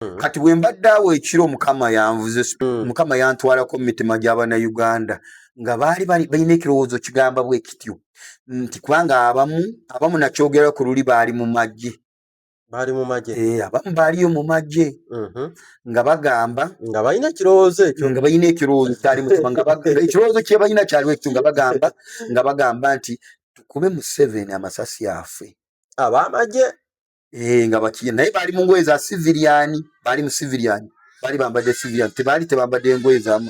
mm. kati bwe mbadde awo ekiro mukama yanvuze mm. mukama yantwalako mu mitima gy'abanauganda nga baali balina ekirowoozo kigamba bwe kityo nti kubanga abamu abamu nakyogera ku luli baali mu magye baali mu magye eh, abamu baaliyo mu magye mm-hmm. nga bagamba nga balina ekirowoozo ekyo nga balina ekirowoozo kyali mutima nga ekirowoozo kye balina kyaliwo ekyo nga bagamba nga bagamba nti tukube museveni amasasi affe ab'amagye eh nga bakiyina naye bali mu ngoye za civilian bali mu civilian bali bambadde civilian tebaali tebambadde ngoye za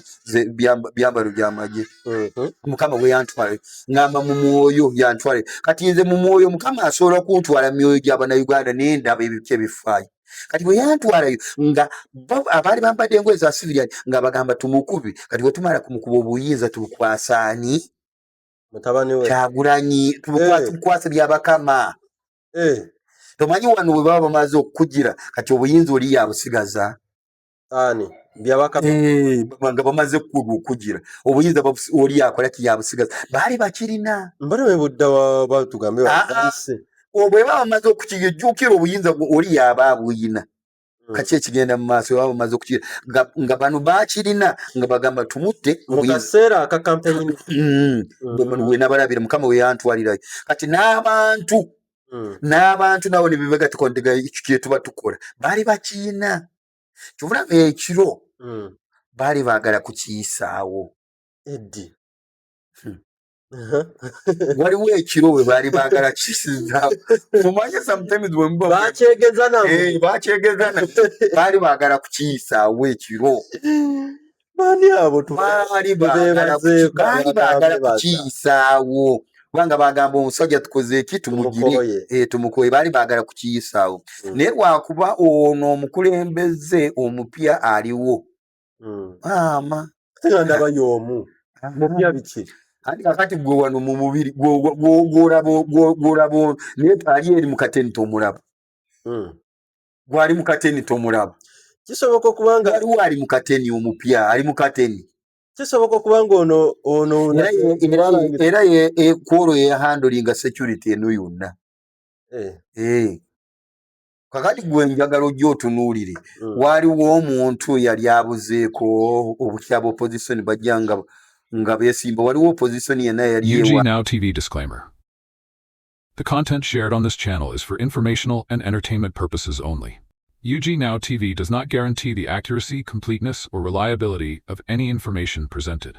byambalo bya magye mhm. mukama we yantwale ngamba mu mwoyo yantwale kati nze mu mwoyo mukama asobola kuntwala mu myoyo gya bannayuganda naye ndaba ebipya ebifaayo kati bwe yantwalayo nga abaali bambadde engoye za civilian nga bagamba tumukubi kati bwe tumala kumukuba obuyinza tubukwasaani kyagulanyi eh. tubukwase byabakama eh. tomanyi wano bwe baba bamaze okukugira kati obuyinza oli yabusigaza ani eh, nga bamaze okukugira obuyinza oli yakola ki yabusigaza baali bakirina mbale webudda batugambe ah, ah. bwebaba bamaze okukijukira obuyinza oli yaba abuyina Mm. kaki ekigenda mu maaso oba bamaze okuki nga bano bakirina nga bagamba tumutte mukaseera akakampeyini mm. mm. wenabalabire mukama weyantwalirayo kati n'abantu n'abantu nabo nebebagatiko nti kyetuba tukola baali bakiina kyobulaba ekiro baali baagala kukiyisaawo eddi hmm. waliwo ekiro we baali baagala kisinzaawo omanye sometimes bakyegeza bakyegeza baali baagala kukiyisaawo ekiro baani abo baali baagala kukiyisaawo kubanga bagamba omusajja tukoze eki tumugire eh, tumukoye baali baagala kukiyisaawo hmm. naye lwakuba ono omukulembeze omupya aliwo hmm. maama era ndaba y'omu mupya biki anti kakati gwe wano mu mubiri gwolaba naye ali eri mu kateni tomulaba hmm. gwali mu kateni tomulaba kisoboka okuba nga aliwo ali mu kateni omupya ali mu kateni kisoboka okuba nga ono ono era e, kwolwo yeyahandolinga security eno yonna eh. Eh. kakati gwe njagala ojja otunuulire mm. waaliwo omuntu eyali abuzeeko obutya ba opposition bajja nga nga beesimba waliwo opposition yenna yali The content shared on this channel is for informational and entertainment purposes only. UG Now TV does not guarantee the accuracy, completeness, or reliability of any information presented.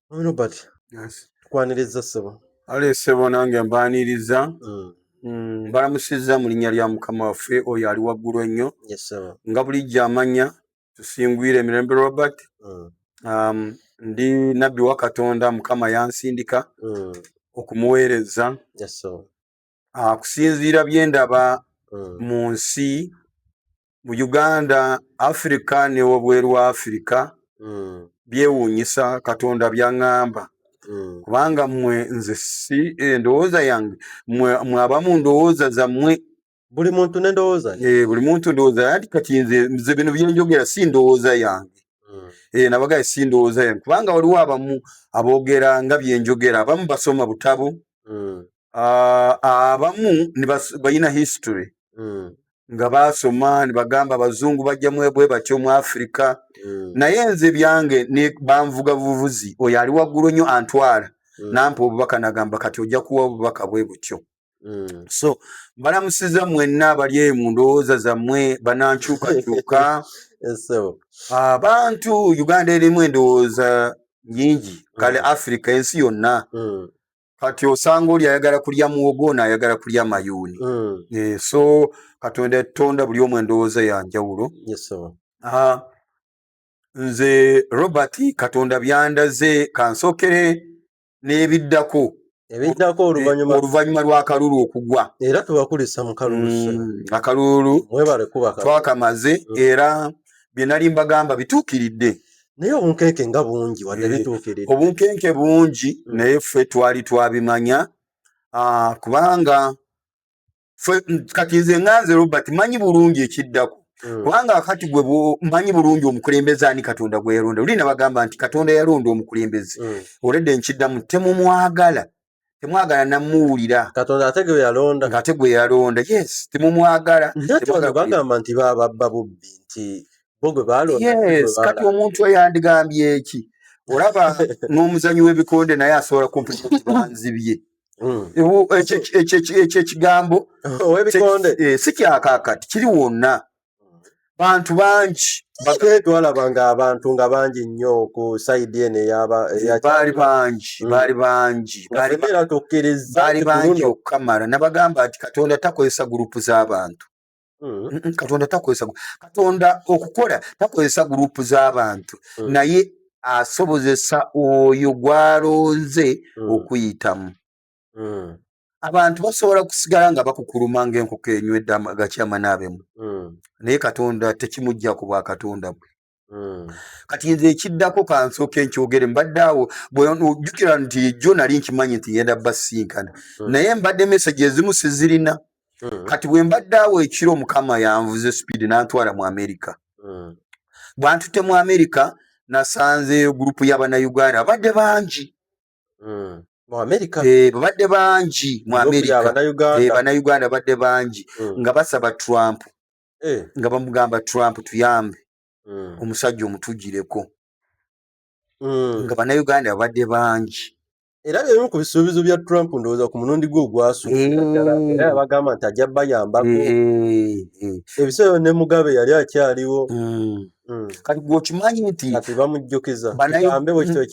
Robert tukwaniriza ssebo ale ssebo nange mbaniriza mm. mm, mbalamusizza mu linnya lya mukama waffe oyo ali waggulu ennyo nga bulijjo amanya tusingwire emirembe robert mm. um, ndi nabbi wa katonda mukama yansindika mm. okumuweereza ah, kusinziira bye ndaba mm. mu nsi mu uganda afirika ne wabweru wa afirika mm. byewuunyisa katonda byaŋŋamba mm. kubanga mmwe nze si endowooza eh, yange mwe abamu ndowooza zammwe buli muntu nendowooza eh, buli muntu ndowooza yanti kati nze nze bino byenjogera si ndowooza yange mm. eh, nabagaye si ndowooza yange kubanga waliwo abamu aboogera nga byenjogera abamu basoma butabo mm. ah, abamu balina history mm. nga baasoma ne bagamba abazungu bajja mwebwe batyo mu afirika mm. naye nze byange banvuga buvuzi oyo ali waggulu nnyo antwala mm. nampa obubaka nagamba kati ojja kuwa obubaka bwe butyo Mm. so balamusiza mwenna abali eyo mu ndowooza zammwe banankyukakyuka abantu uganda erimu endowooza nyingi kale mm. africa ensi yonna mm. kati osanga oli ayagala kulya muwogo naayagala kulya mayuuni mm. e, so katonda yatonda buli omu endowooza ya njawulo yes, ah, nze robert katonda byandaze kansokere n'ebiddako ebiddako eh, oluvanyuma oluvanyuma lw'akalulu okugwa era tubakulisa mu kalulu mm, akalulu twakamaze mm. era bye nali mbagamba bituukiridde naye obunkenke nga bungi wadde eh, bituukiridde obunkenke bungi hmm. naye ffe twali twabimanya ah, kubanga kati nze nganze robert manyi bulungi ekiddako hmm. kubanga akati gwe manyi bulungi omukulembeze ani katonda gwe yalonda luli nabagamba nti katonda yalonda omukulembeze hmm. oledde nkiddamu temumwagala temwagala namuwulira katonda ate gwe yalonda ngate gwe yalonda yes temumwagala bagamba nti bababba bubbi nti bo gwe balonda yes kati omuntu eyandigambye eki olaba n'omuzanyi w'ebikonde naye asobola kumpibanzibye hmm. ekyo ekigambo eh, si kyakakati kiri wonna bantu bangi batwetwalaba nga abantu nga bangi nnyo ku saidi eno eyabaali bangi mm. baali bangi era tokkereza baali bangi okukamala nabagamba nti katonda takozesa gurupu z'abantu mm. katonda takozesa katonda okukola takozesa gurupu z'abantu mm. naye asobozesa oyo gw'alonze okuyitamu mm. abantu basobola kusigala nga bakukuluma ngaenkoko enywedde agakyama naabemu mm. naye katonda tekimujja ku bwa katonda bwe mm. kati nze ekiddako kansooka enkyogere mbadde awo bwejukira nti jo nali nkimanyi nti yenda basinkana mm. naye mbadde mesage ezimu sizirina mm. kati bwe mbadde awo ekiro mukama yanvuze speed nantwala mu amerika mm. bwantute mu amerika nasanze gurupu yabanauganda abadde bangi mm. eh, babadde bangi mu amerika banauganda eh, babadde bangi mm. nga basaba trump eh. nga bamugamba trump tuyambe mm. omusajja omutugireko mm. nga banauganda babadde bangi era leero ku bisuubizo bya trump ndowooza ku mulundi gwe ogwasuuera yabagamba nti ajja bayambako ebiseera ne mugabe yali akyaliwo Mm. kati gwokimanyi nti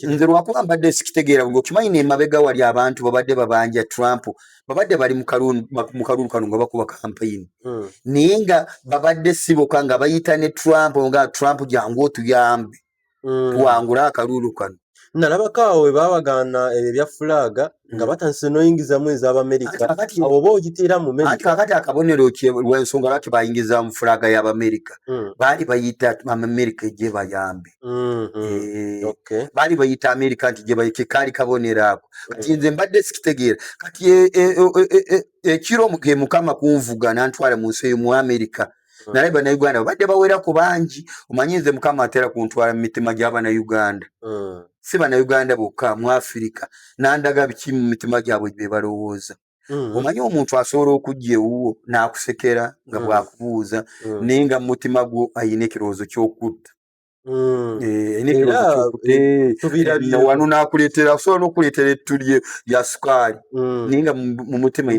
nze lwakuba mbadde sikitegeera gwokimanyi nemabega wali abantu babadde babanja trump babadde bali mu kalulu kano nga bakuba kampeyini mm. naye nga babadde siboka nga bayita ne trump nga trump jangu otuyambe mm. tuwangule akalulu kano nalabako awo we baabagaana ebyo ebya fulaaga nga hmm. batandise n'oyingizamu ez'abamerika awo oba ogiteera mu merika kakati akabonero lwensonga lwaki bayingizamu fulaaga y'abamerika hmm. baali bayita amerika gye bayambe hmm, eh, baali bayita amerika nti gyekaali kabonero ako kati nze mbadde sikitegeera kati e, e, e, ekiro ge mukama kunvuga nantwala mu nsi eyo mu amerika hmm. naye banauganda babadde bawera ku bangi omanyi nze mukama atera kuntwala mu mitima gy'abanauganda hmm. si banauganda bokka mu afirika nandaga biki mu mitima gyabwe gye balowooza Mm. omanyi omuntu asobola okujja ewuwo n'akusekera nga mm. bwakubuuza mm. naye nga mumutima gwo ayina ekirowoozo kyokutta Mm. Eh, wano nakuletera osobola nokuletera ettu lya sukaali mm. naye nga mumutima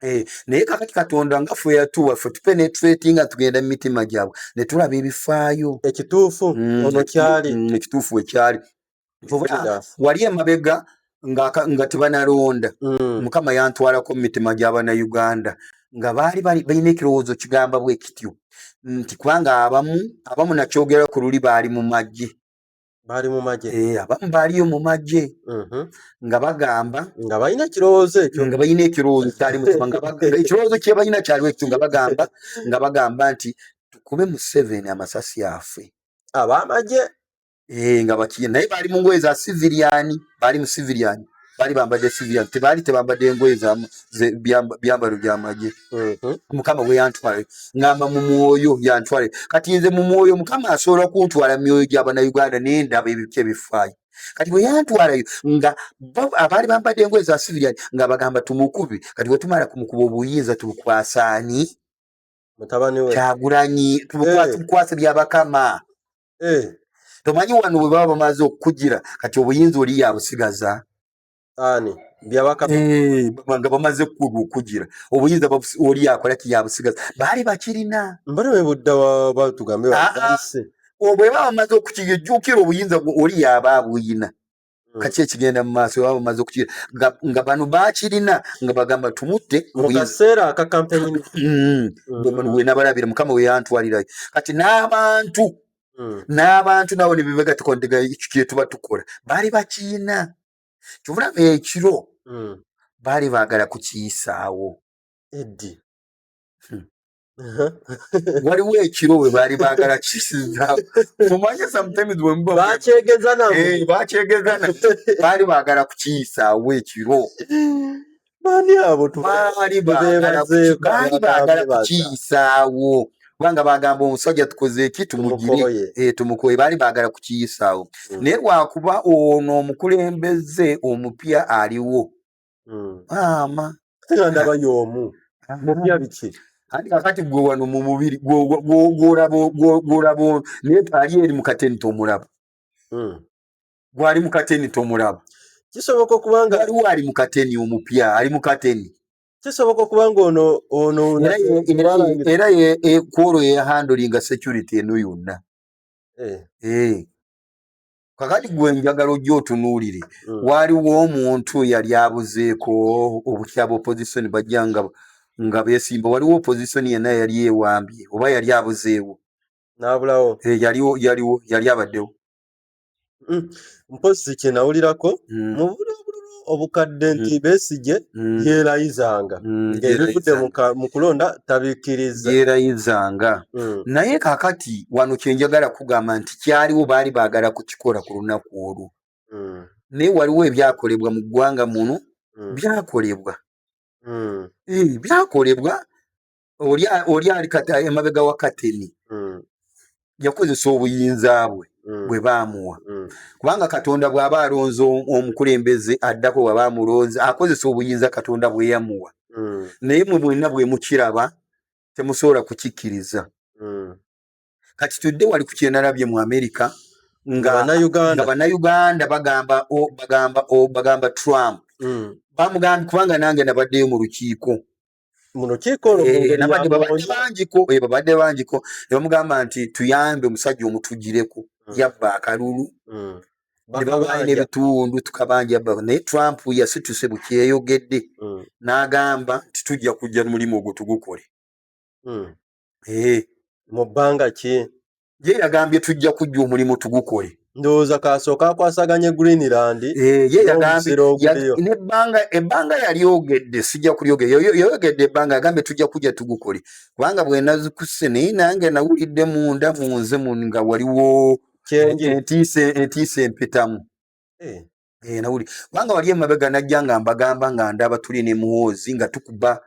Eh, naye kakati katonda nga ffe yatuwa ffe tupenetrati nga tugenda mu mitima gyabwe ne tulaba ebifaayo ekituufu mm, ono kyali mm, ekituufu wekyali wali emabega nga, nga tebanalonda mm. mukama yantwalako mu mitima gy'abanauganda nga baali balina ekirowoozo kigamba bwe kityo nti kubanga abamu abamu nakyogera ku luli baali mu magye baali mu magye eh, abamu baaliyo mu magye mm-hmm. nga bagamba nga balina ekirowoozo ekyo nga balina ekirowoozo kyali mutima nga ekirowoozo kye balina kyaliwo ekyo nga bagamba nga bagamba nti tukube museveni amasasi afe abamagye eh nga bakigenda naye bali mu ngoye za civilian bali mu civilian bali bambadde civilian tebaali tebambadde ngoye za byambalo byamagye mhm. mukama we yantwale ngamba mu mwoyo yantwale kati nze mu mwoyo mukama asobola kuntwala mu myoyo gy'abanauganda naye ndaba ebipya ebifaayo kati bwe yantwalayo nga abaali bambadde engoye za civilian nga bagamba tumukubi kati wetumala kumukuba obuyinza tubukwasaani kyagulanyi eh. tubukwase byabakama eh. tomanyi wano bwe baba bamaze okukugira kati obuyinza oli yabusigaza ani eh, nga bamaze okukugira obuyinza oli yakola ki yabusigaza baali bakirina mbale webudda batugambe ah, ah. bwebaba bamaze okukiyejjukira obuyinza oli yaba abuyina mm. kaki ekigenda mu maaso baba bamaze okukira nga bano bakirina nga bagamba tumutte mu kaseera aka kampeni mm. mm. wenabalabira mukama weyantwalirayo kati n'abantu n'abantu nabo nebebegatikondega ekyo kyetuba tukola baali bakiina kyovulaba ekiro baali baagala kukiyisaawo eddi hmm. waliwo ekiro we baali baagala kisinzaawo omanye sometimes bwemubabakyegezana eh, baali baagala kukiyisaawo ekiro baani abo baali baagala kukiyisaawo kubanga bagamba omusajja tukoze eki tumugire eh, tumukoye baali baagala kukiyisaawo hmm. naye lwakuba ono omukulembeze omupya aliwo hmm. maama era ndaba y'omu mupya biki anti kakati gwe wano mu mubiri gwolabo naye ali eri mu kateni tomulaba hmm. gwali mu kateni tomulaba kisoboka okuba nga aliwo ali mu kateni omupya ali mu kateni kisoboka okuba nga ono ono era e, kwolwo yeyahandulinga security eno yonna eh. Eh. kakati gwe njagala ojja otunuulire mm. waaliwo omuntu eyali abuzeeko obutya bopozisoni bajja nga nga besimba waliwo opozisoni yenna yali ewambye oba yali abuzeewo nabulawo eh, yaliwo yaliwo yali abaddewo mm. mpozi kyenawulirako mm. mubula obukadde nti mm. besigye mm. yeerayizanga mm, ng'ebivudde mu kulonda tabikkirizza yeerayizanga naye kakati wano kye njagala kugamba nti kyaliwo baali baagala kukikola ku lunaku olwo naye waliwo ebyakolebwa mu ggwanga muno byakolebwa eh, byakolebwa oli ali emabega wa kateni mm. yakozesa obuyinza bwe mm. bwe baamuwa mm. kubanga katonda bw'aba alonze omukulembeze addako bwaba amulonze akozesa obuyinza katonda bwe yamuwa naye mwe mwenna bwe mukiraba temusobola kukikkiriza kati tudde wali ku kyenalabye mu amerika nga bannayuganda bagamba bagamba bagamba trump bamugambye kubanga nange nabaddeyo mu lukiiko mu lukiiko olwo mu ngeri ya Muhoozi bangiko eh, babadde bangiko ne bamugamba nti tuyambe omusajja omutugireko hmm. yabba akalulu hmm. ne babaali n'ebitundu tukabanja yabba naye Trump yasituse bukyeyogedde hmm. n'agamba nti tujja kujja mulimu ogwo tugukole eh. mu bbanga ki ye yagambye tujja kujja omulimu tugukole ndowooza kasooka akwasaganye greenland eh, ye yagambye nebbanga ebbanga yalyogedde sijja kulyogera yayogedde ebbanga yagambye tujja kujja tugukole kubanga bwenazikuse naye nange nawulidde munda munze nga waliwo entiisa empitamu eh. eh, nawuli kubanga wali emabega najja nga mbagamba nga ndaba tuli ne muwoozi nga tukuba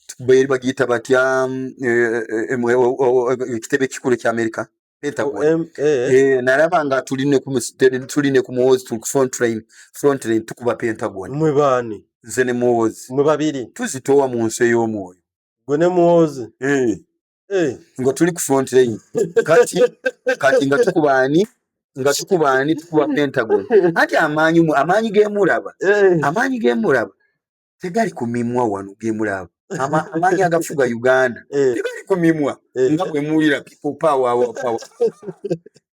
tukuba eri bagiyita batya mm, eh, eh, eh, ekitebe ekikulu ekya amerika pentagon nalaba nga tuli ne ku muwoozi tuli ku frontline frontline tukuba pentagon mwe baani nze ne muwoozi mwe babiri tuzitoowa mu nsi ey'omwoyo gwe ne muwoozi eh. ngo tuli ku front line kati kati nga tukubani nga tukubani tukuba pentagon ati amanyi mu amanyi ge muraba eh. amanyi ge muraba tegali ku mimwa wanu ge muraba ama amanyi agafuga uganda eh. tegali ku mimwa nga bwe mulira people power our power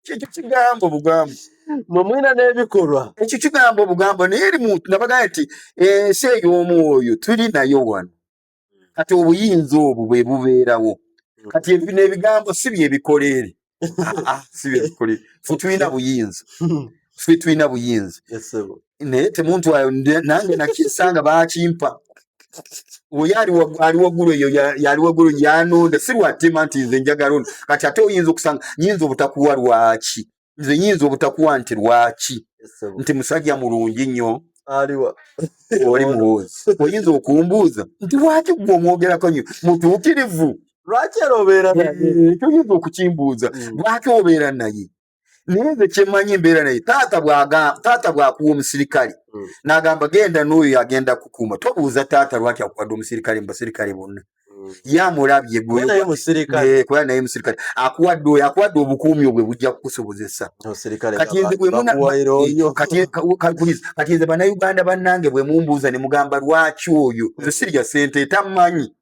kyekyo kigambo bugambo mwe mulina n'ebikolwa ekyo kigambo bugambo naye eri muntu nabagaa nti ensi eh, ey'omwoyo tuli nayo wano kati obuyinza obwo bwe bubeerawo kati ebi n'ebigambo si byebikoleere si byebikoleere fe tulina buyinza fe tulina buyinza naye temuntu ayo nange nakisanga bakimpa oyo ali waggulu eyo yali waggulu yanonda si lwatima nti nze njagala ono kati ate oyinza okusanga nyinza obutakuwa lwaki nze nyinza obutakuwa nti lwaki nti musajja mulungi nnyo aliwa oli muwoozi oyinza okumbuuza nti lwaki gwe omwogerako nyo mutuukirivu lwaki era obeera naye eh, toyinza okukimbuuza hmm. lwaki obeera naye naye nze kyemanyi embeera naye taata bwakuwa omusirikale hmm. nagamba genda n'oyo agenda kukuuma tobuuza taata lwaki akuwadde omusirikale mu basirikale bonna mm. yamulabye gwekuba naye musirikale akuwadde oyo akuwadde obukuumi obwe bujja kukusobozesa kati nze banauganda bannange bwe mumbuuza ne mugamba lwaki oyo nze sirya sente tamanyi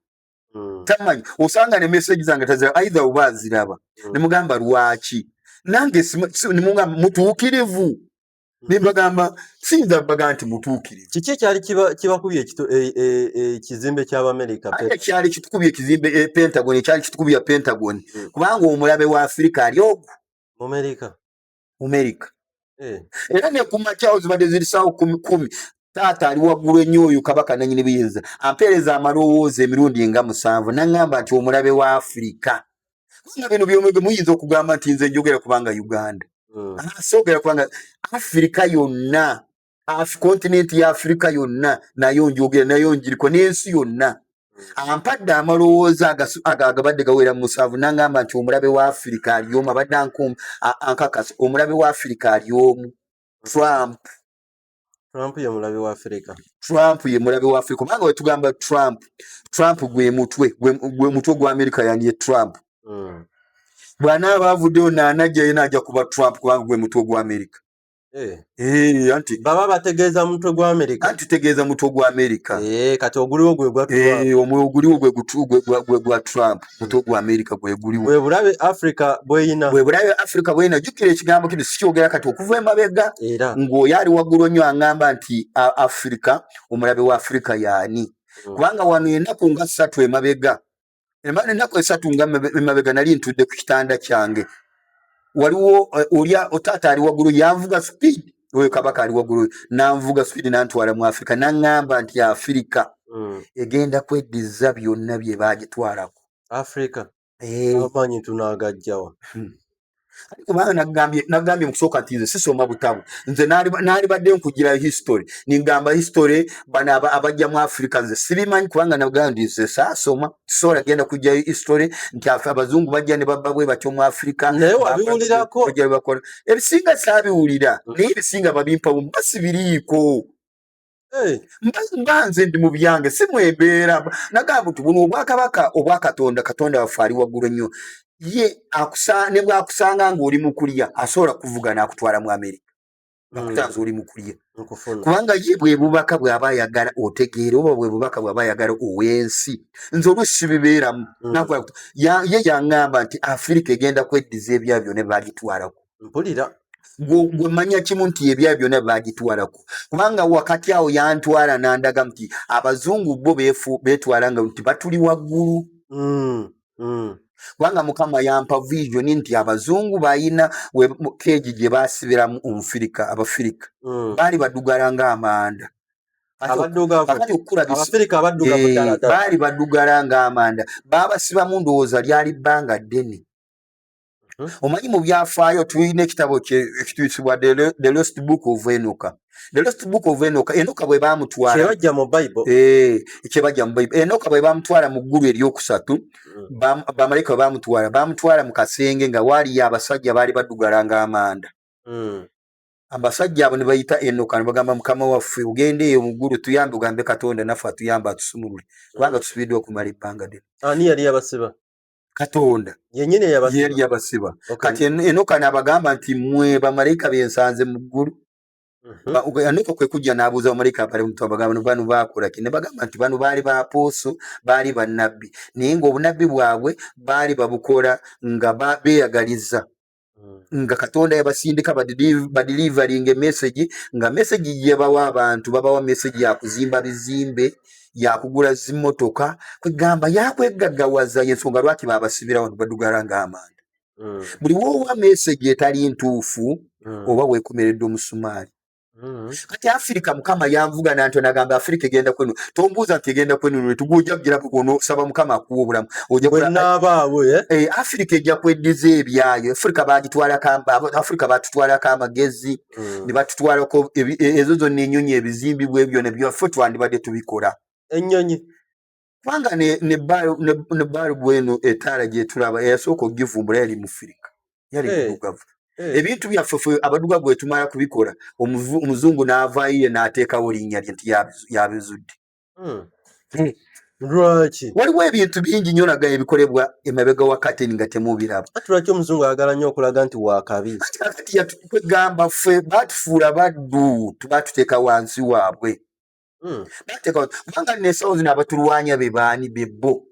mm. tamanyi osanga ne meseji zange tazira aidha oba aziraba mm. ne mugamba lwaki nange mutuukirivu ne mbagamba siyinza baga nti mutuukirivu kiki ekyali kibakubye ekizimbe e, e, ky'abamerika kyali kitukubye ekizimbe e, pentagon ekyali kitukubya pentagon hmm. kubanga omulabe wa afirika ali ogwo mumerika mumerika eh. era nekumakyawo zibadde ziri sawo kumi kumi taata ali waggulu ennyo oyo kabaka nanyini buyinza ampeereza amalowooza emirundi nga musanvu naŋŋamba nti omulabe wa afirika nga bino byomwege muyinza okugamba nti nze njogera kubanga uganda hmm. ah, sogera kubanga afirika yonna kontinenti ya afirika yonna nayo njogera nayo njiriko n'ensi yonna hmm. ampadde amalowooza agabadde gawera mu musanvu nangamba nti omulabe wa afirika ali omu abadde ankakasa omulabe wa afirika ali omu trump Trump ye mulabe wa Afrika. Trump ye mulabe wa Afrika. Kubanga wetugamba Trump, Trump gwe mutwe, gwe mutwe gwa Amerika yani ye Trump. Mm. Bwana abavuddeyo naanajja yena ajja kuba Trump kubanga gwe mutwe gwa Amerika. Eh. Eh, anti baba bategeeza mutwe gwa Amerika. Anti tegeeza mutwe gwa Amerika. Eh, kati oguliwo gwe gwa Trump. Eh, omwe oguliwo gwe gutugwe gwa gwa Trump. mutwe gwa amerika gweguliwo bwebulabe africa bweyina bwebulabe africa bweyina jukira ekigambo kino sikyogera kati okuva emabega era ng'oyo ali waggulu nnyo aŋamba nti africa omulabe wa africa yaani hmm. kubanga wano enaku nga ssatu emabega emana enaku esatu nga emabega nali ntudde ku kitanda kyange waliwo eh, olya otaata ali waggulu yanvuga speed oyo kabaka ali waggulu nanvuga speed nantwala mu afirika naŋŋamba nti afirika mm. egenda kweddiza byonna bye bagitwalako afirika eh. amaanyi tunaagajjawa hmm. kubanga nagambye nagambye mukusooka nti nze sisoma butabu nze nalibadde nkugirayo history ningamba history bano abajja mu africa nze sibimanyi kubanga nagambye nti nze saasoma sola genda kujja history nti afa abazungu bajja ne babba bwe batyo mu Afrika naye wabiwulira ko kujja bakora ebisinga sabi ulira mm. naye ebisinga babimpa mu basi biriko eh mbanze ndi mu byange si mwebera naga mtu buno obwa kabaka obwa katonda katonda wafari waguru nyo ye akusane bwa kusanga ngoli mukulia asola kuvugana akutwala mu Amerika bakutaasa mm. oli mukulya kubanga ye bwe bubaka bw'aba ayagala otegeera oba bwe bubaka bw'aba ayagala ow'ensi nze oluusi sibibeeramu mm. ye yaŋŋamba nti afirika egenda kweddiza ebya byona bagitwalako mpulira gwe manya kimu nti ebya byona bagitwalako kubanga wakati awo yantwala n'andaga nti abazungu bo betwala nga nti batuli waggulu mm. hmm. kubanga mukama yampa visioni nti abazungu balina keegi gye basibiramu omufirika abafirika hmm. baali badugala nga amanda baali badugala nga amanda baabasibamu ndowooza lyali bbanga ddene Hmm? omanyi mu byafaayo tulina ekitabo ekituyisibwa the lost book of enoka the lost book of enoka enoka bwe bamutwalakyebaja mu bible eh, enoka bwe bamutwala mu ggulu eryokusatu hmm. bamalayika bwe bamutwala bamutwala mu kasenge nga waaliyo abasajja baali badugala nga amanda hmm. abasajja abo ne bayita enoka ne bagamba mukama waffe ogenda eyo mu ggulu tuyambe ogambe katonda naffe atuyambe atusumulule kubanga tusubiddwa okumala ebbanga ddene ani yali abasiba katonda yenyini yeyali yabasiba kati enoka nabagamba nti mwe bamalaika bensanze mu ggulu mhm. enoka kwe kujja n'abuuza bamalaika abali omuntu abagamba no banu baakola ki ne bagamba nti bano baali bapooso baali bannabbi naye ng'obunabbi bwabwe baali babukola nga beeyagaliza nga katonda yabasindika badilivaringa emesegi nga mesegi yebawa abantu babawa mesegi yakuzimba bizimbe yakugula zimotoka kwegamba yakwegagawaza yensonga lwaki babasibirawo nibadugala nga amanda mm. buli wowa mesegi etali ntuufu mm. oba wekomeredde omusumaali Mm-hmm. kati afirika mukama yanvuga nanto nagamba afirika egenda kwenu tombuuza nti egenda kwenu netuguja kugira kunosaba mukama akuwa obulamu ojawenaabaawo eh? eh, afirika ejja kweddiza ebyayo afirika bagitwalaafirika batutwalako amagezi mm. ne batutwalako e, ezo zonna enyonyi ebizimbibwa ebyo nebyofe twandibadde tubikola enyonyi kubanga ne balibu eno etaala gyetulaba eyasooka okugivumbula yali mufirika yali eh. mudugavu eh. ebintu byaffe fe abadugavu wetumala kubikola omuzungu n'avaayo ye n'ateekawo linnya lye nti yabizudde hmm. eh. lwaki waliwo ebintu bingi nyo naga ebikolebwa emabega wakati nga temubiraba ati lwaki omuzungu ayagala nnyo okulaga nti wakabi kati yatukwegamba ffe batufuula baddu tubatuteeka wansi waabwe Hmm. bateka kubanga nno ensawo zino abatulwanya be baani be bo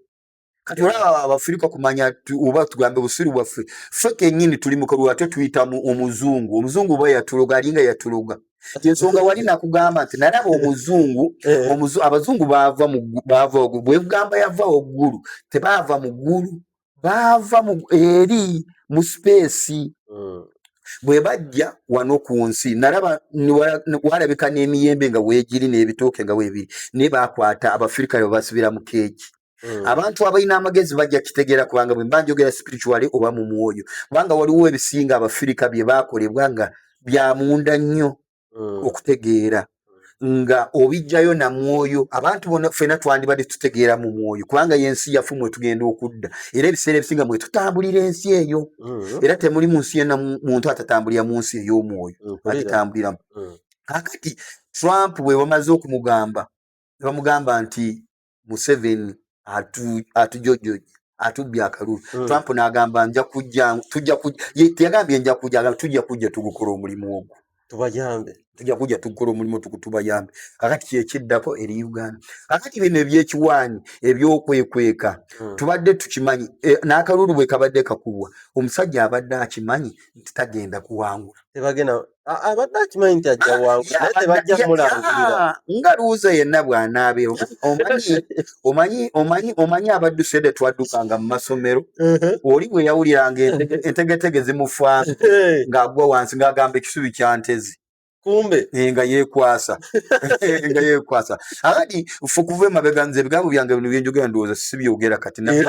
kati olaba abafirika kumanya oba tugambe busiru bwaffe ffe kenyini tuli mukalu ate tuyita omuzungu omuzungu oba yatuloga alinga yatuloga ensonga wali nakugamba nti nalaba omuzungu eh. abazungu bava bwegamba yava waggulu tebaava mu ggulu baava eri mu sipeesi hmm. bwe bajja wano ku nsi nalaba walabika n'emiyembe nga weegiri n'ebitooke nga weebiri naye baakwata abafirika be basibira mu keeki Mm. abantu abalina amagezi bajja kitegeera kubanga bwe mba njogera spirituale oba mu mwoyo kubanga waliwo ebisinga abafirika bye baakolebwa nga byamunda nnyo mm. okutegeera nga obijjayo na mwoyo abantu bona fena twandibadde tutegeera mu mwoyo kubanga yensi yafu mwe tugenda okudda era ebiseera ebisinga mwe tutambulira ensi eyo mm. era temuli mu nsi yona muntu atatambulira mu nsi ey'omwoyo mm, agitambuliramu mm. kakati trump bwe bamaze okumugamba bamugamba nti museveni atujojojja atubbye akalulu hmm. trump n'agamba nja kujja tujja kujja yagambye nja kujja agamba tujja kujja tugukola omulimu ogwo tubayambe tujja kujja tugukola omulimu tuku tubayambe kakati kyekiddako eri uganda kakati bino ebyekiwaanyi ebyokwekweka hmm. tubadde tukimanyi e, n'akalulu bwe kabadde kakubwa omusajja abadde akimanyi nti tagenda kuwangula tebagenda abadde akimanyi nti ajja ah, wangu naye tebajja mulangirira nga luuza yenna bw'anaabeera omanyi omanyi omanyi omanyi abadduse de twaddukanga mu masomero uh-huh. oli bwe yawuliranga entegetege zimufaana ng'agwa wansi ng'agamba ekisubi kya ntezi kumbe eh, nga yekwasa nga yekwasa akati fe okuva emabega nze ebigambo byange bino byenjogera ndowooza sibyogera kati eh,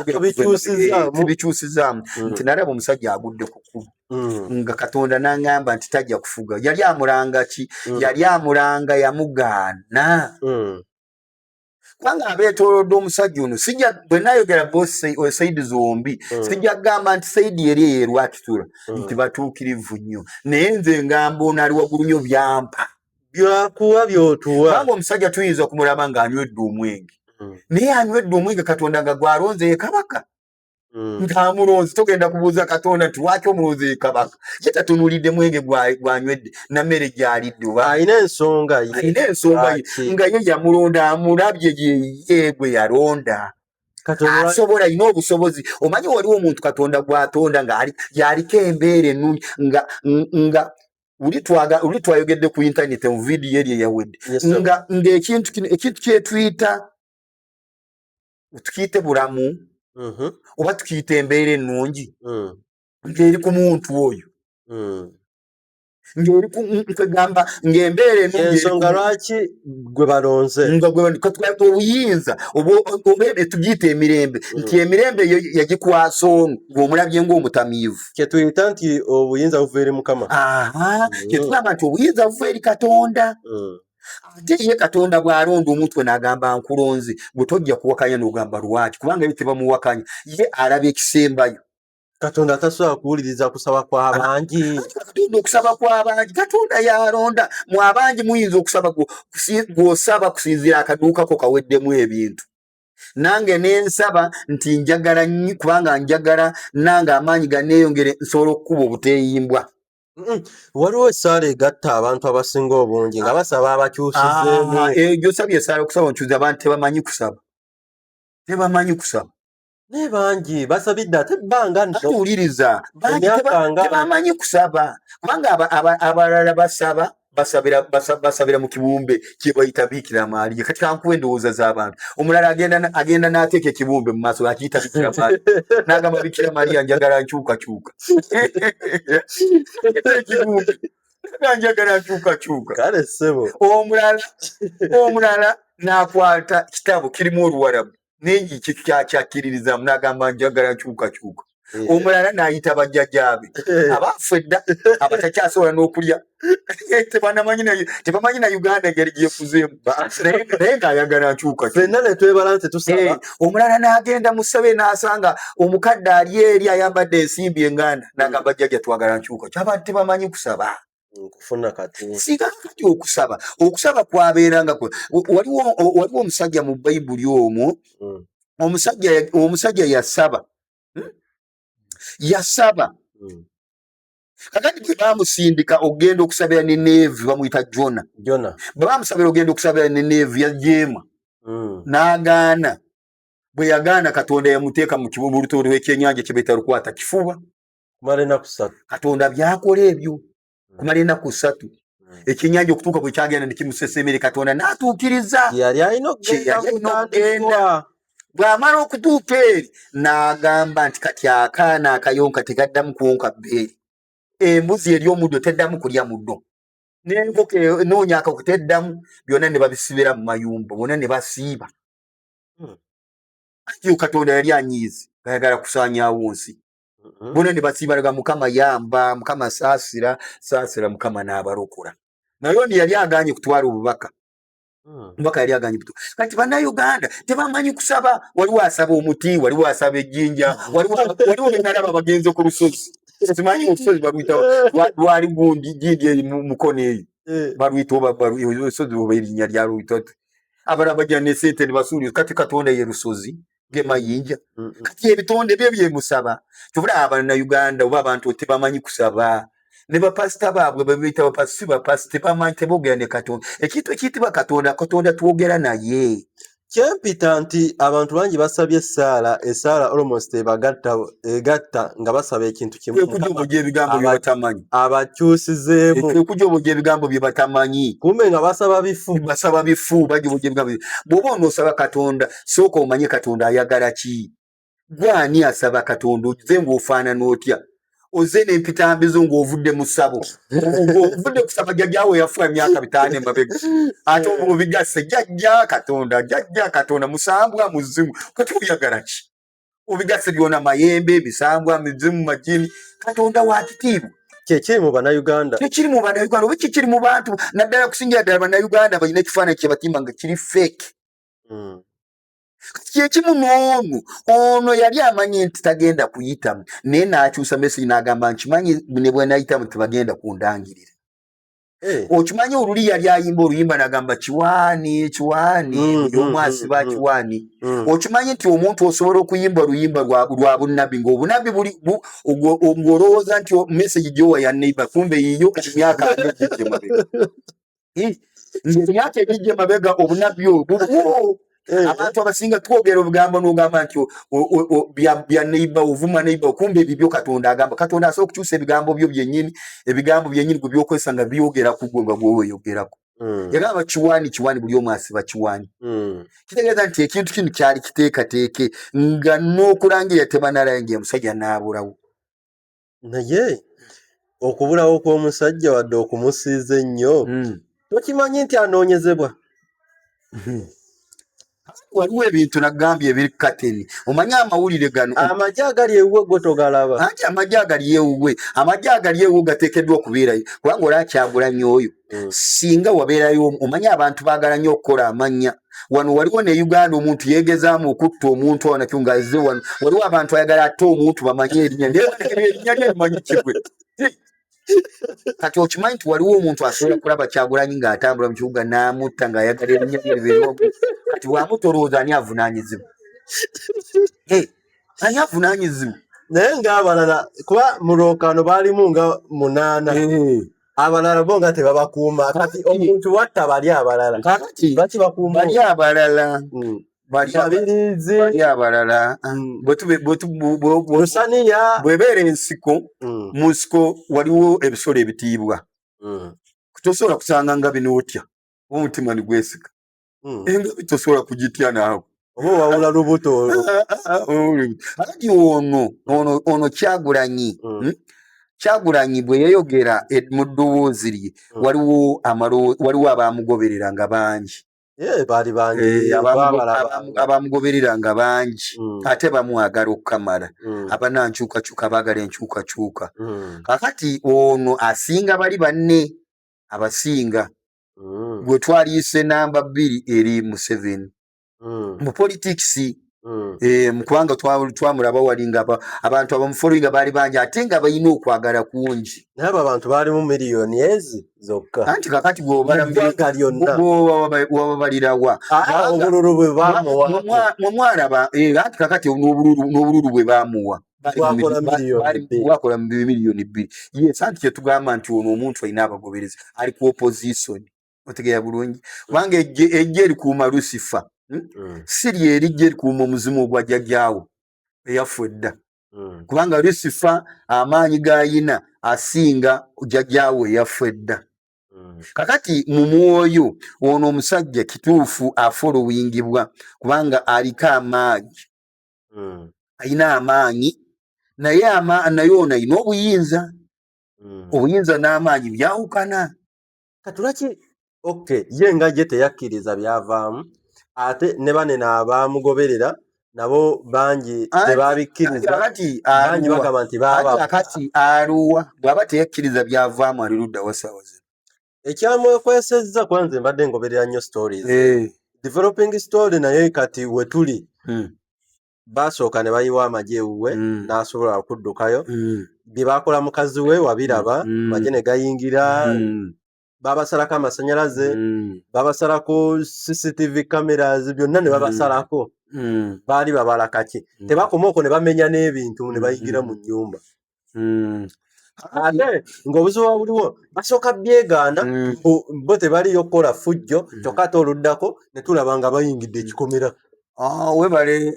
bikyusizaamu eh, hmm. nti nalaba omusajja agudde ku kubo Mm. nga katonda nangamba nti tajja kufuga yali amulanga ki mm. yali amulanga yamugaana mm. kubanga abeetolodde omusajja ono sija bwe nayogera bosaidi zombi mm. sijja kugamba nti saidi eri eyo erwakitula mm. nti batuukirivu nnyo naye nze ngamba ono ali waggulu nnyo byampa byakuwa byotuwa kubanga omusajja tuyinza okumulaba ng'anywedde omwenge mm. naye anywedde omwenge katonda nga gwalonze ye kabaka mm. nga mulonzi togenda kubuuza katonda nti lwaki omulonzi ye kabaka ye tatunulidde mwenge gwanywedde namere gyalidde alina ensonga alina ensonga ye nga ye yamulonda amulabye yeye gwe yalonda asobola alina obusobozi omanyi waliwo omuntu katonda gwatonda nga yaliko embeera enungi nga nga uli twayogedde ku intaneti mu vidiyo eri eyawedde nga ngaekintu kino ekintu kyetuyita tukiyite bulamu mm-hmm. oba tukiyite embeera ennungi mm. ng'eri ku muntu oyo mm. ng'eri kwegamba ng'embeera ensonga lwaki gwe balonze obuyinza tugiyita emirembe mm. nti emirembe eyo yagikwasa onu ng'omulabye ng'omutamiivu kyetuyita nti obuyinza buva eri mukama kyetugamba nti obuyinza buva eri katonda ate ye katonda bw'alonda omutwe n'agamba nkulonze gwe tojja kuwakanya n'ogamba lwaki kubanga ebyo tebamuwakanya ye alaba ekisembayo katonda tasobola kuwuliriza kusaba kwabangi katonda okusaba kwabangi katonda yalonda mu abangi muyinza okusaba gwosaba kusinziira akaduukako kaweddemu ebintu nange nensaba nti njagala kubanga njagala nange amaanyi ganeeyongere nsobola okukuba obuteeyimbwa waliwo esaala egatta abantu abasinga obungi nga basaba abakyusizeemu ah, eh, gyosabye esaala okusaba onkyuza abantu tebamanyi kusaba tebamanyi kusaba naye bangi basabidde ate ebbanga nowuliriza tebamanyi kusaba kubanga abalala basaba basabira basa- basabira mu kibumbe kyebayita bikira maaliya kati kankuwa endowooza z'abantu omulala agenda na- agenda n'ateeka ekibumbe mu maaso akiyita bikira maaliya n'agamba bikira maaliya njagala nkyukakyuka ekibumbe nga njagala nkyukakyuka kale ssebo omulala omulala n'akwata kitabo kirimu oluwarabu naye kyakyakkiririzaamu n'agamba njagala kyukakyuka eh. omulala n'ayita bajjajaabe eh. abaafu edda abatakyasobola n'okulya tebanamanyi naye tebamanyi na uganda engeri gyekuzeemu naye ng'ayagala nkyuka fenna netwebala nti tusaba eh, omulala n'agenda mu ssebe n'asanga omukadde ali eri ayambadde ensimbi enganda n'agamba jjajja twagala nkyuka kyaba tebamanyi kusaba kufuna katonda singa kati okusaba okusaba kwabeeranga kwe waliwo waliwo omusajja mu bayibuli omwo mm. omusajja omusajja yasaba hmm? yasaba mm. kakati bwe bamusindika okugenda okusabira ne neevi bamuyita jona jona bwe bamusabira okugenda okusabira ne neevi yajeema mm. n'agaana bwe yagaana katonda yamuteeka mu kibulutooto ekyenyanja kye betalukwata kifuba kumala enaku satu katonda byakola ebyo hmm. kumala enaku satu hmm. ekyenyanja okutuuka bwe kyagenda ne kimusesemere katonda n'atuukiriza kyeyali alina okugenda bw'amala okutuuka eri n'agamba nti kati akaana akayonka tegaddamu kuwonka bbeeri embuzi eri omuddo teddamu kulya muddo n'enkoko enoonya akako teddamu byonna ne babisibira mu mayumba bona ne basiiba hmm. atiyo katonda yali anyiizi gayagala kusaanyaawo nsi mm-hmm. bona ne basiibalaga mukama yamba mukama saasira saasira mukama n'abalokora naye ono yali aganye kutwala obubaka hmm. mubaka yali aganye butu kati bannayuganda tebamanyi kusaba waliwo asaba omuti waliwo asaba ejjinja waliwo benalaba bagenze ku lusozi simanyi olusozi baluyita lwali gundi gindi eri mukono eyo eh. baluyita olusozi oba erinnya lyaluyita abalala bajja nesente nebasuulio kati katonda ye lusozi ge mayinja kati ebitonde bye byemusaba tubula abana uganda oba abantu tebamanyi kusaba ne bapasita baabwe bebiyita bapasita si bapasita tebamanyi teboogera ne katonda ekintu ekiyitibwa katonda katonda twogera naye kyempita nti abantu bangi basabye essaala essaala almost ebagatta egatta nga basaba ekintu kimukujoboja ebigambo byebatamanyi abakyusizeemu ekujoboja ebigambo byebatamanyi kumbe nga basaba bifu basaba bifu bajoboja ebigambo bwoba onosaba katonda sooka omanye katonda ayagala ki gwe ani asaba katonda oze ngaofaanana otya oze nempitambizo ngaovudde mu ssabo ovudde kusaba jajjawe yafuwa emyaka bitaano emabega ate obulo bigasse jajja katonda jajja katonda musambwa muzimu kati oyagala ki obigasse byona mayembe emisambwa mizimu majini katonda wakitiibwa kyekiri mu banauganda kyekiri mu banauganda oba kyekiri mu bantu naddala kusingira ddala banauganda balina ekifaananyi kyebatimba nga kiri fake hmm. kyekimu n'ono ono yali amanyi nti tagenda kuyitamu naye n'akyusa meseji n'agamba nkimanyi ne bwenayitamu tebagenda kundangirira eh. okimanyi oluli yali ayimba oluyimba nagamba kiwaani kiwaani hmm, hmm, omu asiba kiwaani okimanyi nti omuntu osobola okuyimba oluyimba lwa bunabbi ngaobunabbi ng'olowooza nti meseji gyowa ya neiba kumbe yiyo emyaka aeemabega emyaka egijja emabega obunabbi obwo eh. abantu abasinga twogera obugambo nogamba nti bya neiba ovuma neiba okumba ebibyo katonda agamba katonda asobola okukyusa ebigambo byo byenyini ebigambo byenyini gwe byokozesa nga byogera ku gwe nga gweweyogerako hmm. yagamba kiwani kiwani buli omu asiba kiwani hmm. kitegeeza nti ekintu kino kyali kiteekateeke nga n'okulangira tebanalainga omusajja naabulawo naye okubulawo kw'omusajja wadde okumusiiza ennyo hmm. tokimanyi nti anoonyezebwa hmm. waliwo ebintu nagambye ebiri kateni omanyi amawulire gano amagye agali ewuwe gwe togalaba anti amagye agali ewuwe amagye agali ewuwe gateekeddwa okubeerayo kubanga olaba kyagulanyi oyo mm. singa wabeerayo omanyi abantu baagala nnyo okukola amannya wano waliwo ne uganda omuntu yeegezaamu okutta omuntu awo nakyo nga azze wano waliwo abantu ayagala atte omuntu bamanye erinya erinya lyemanyi kigwe kati okimanyi nti waliwo omuntu asobola kulaba kyagulanyi ng'atambula mu kibuga n'amutta ng'ayagala erinya lyeribeeroku kati bwamutta olowooza ani avunaanyizibwa ani avunaanyizibwa naye ng'abalala kuba mu lwokaano baalimu nga munaana abalala bo nga tebabakuuma kati omuntu watta bali abalala kati baki bakuuma bali abalala hmm. balyabalirizi bali abalala hmm. bwesaniya bwebeera ensiko hmm. mu nsiko waliwo ebisolo ebitiibwa tosobola kusanga nga bino otya omutima nigwesika hmm. engabi tosobola kugitya naawe oba owawula lubuto alagi ono ono ono kyagulanyi hmm. hmm? kyagulanyi bwe yayogera e, mu ddoboozi lye hmm. waliwo waliwo abaamugoberera nga bangi eh, eh, abaamugoberera nga bangi ate bamwagala okukamala abanankyukakyuka baagala enkyukakyuka kakati ono asinga bali banne abasinga mm. gwe twaliyise namba bbiri eri museveni mm. mu politics mm. e, mukubanga twamulaba wali nga abantu abamufollowinga baali bangi ate nga balina okwagala kungi naye abo abantu baalimu miliyoni ezi zokka anti kakati bwobabalirawa obululu bwe bamuwa mwamwalaba anti kakati n'obululu bwe bamuwa wakola miliyoni bbiri yes anti kyetugamba nti ono omuntu alina abagoberezi ali ku opposition otegeera bulungi kubanga ejja erikuuma lusifa hmm? mm. si lyerijja erikuuma omuzimu ogwa jajaawo eyafu edda mm. kubanga lusifa amaanyi gayina asinga jajaawo eyafu edda mm. kakati mu mwoyo ono omusajja kituufu afolowingibwa kubanga aliko amaanyi mm. alina amaanyi naye naye ono alina obuyinza mm. obuyinza n'amaanyi byawukana katulaki ok ye nga ye teyakkiriza byavaamu ate ne bane nabaamugoberera nabo bangi tebaabikkirizabangi bagamba nti baakati aluwa bw'aba teyakkiriza byavaamu ali ludda wasaawa zino ekyamwekwesezza kuba nze mbadde ngoberera nnyo stories eh. developing story naye kati wetuli hmm. basooka ne bayiwa amagye ewuwe hmm. n'asobola okuddukayo hmm. bye baakola mukazi we wabiraba magye ne gayingira babasalako amasanyalaze babasalako cctv cameras byonna ne babasalako baali babala kaki tebakoma okwo ne bamenya n'ebintu ne bayingira mu nnyumba mm. ate ng'obuzibu wa buliwo basooka byeganda mm. bo tebaliyo kukola fujjo mm. kyokka ate oluddako ne tulaba nga bayingidde ekikomera ah, webale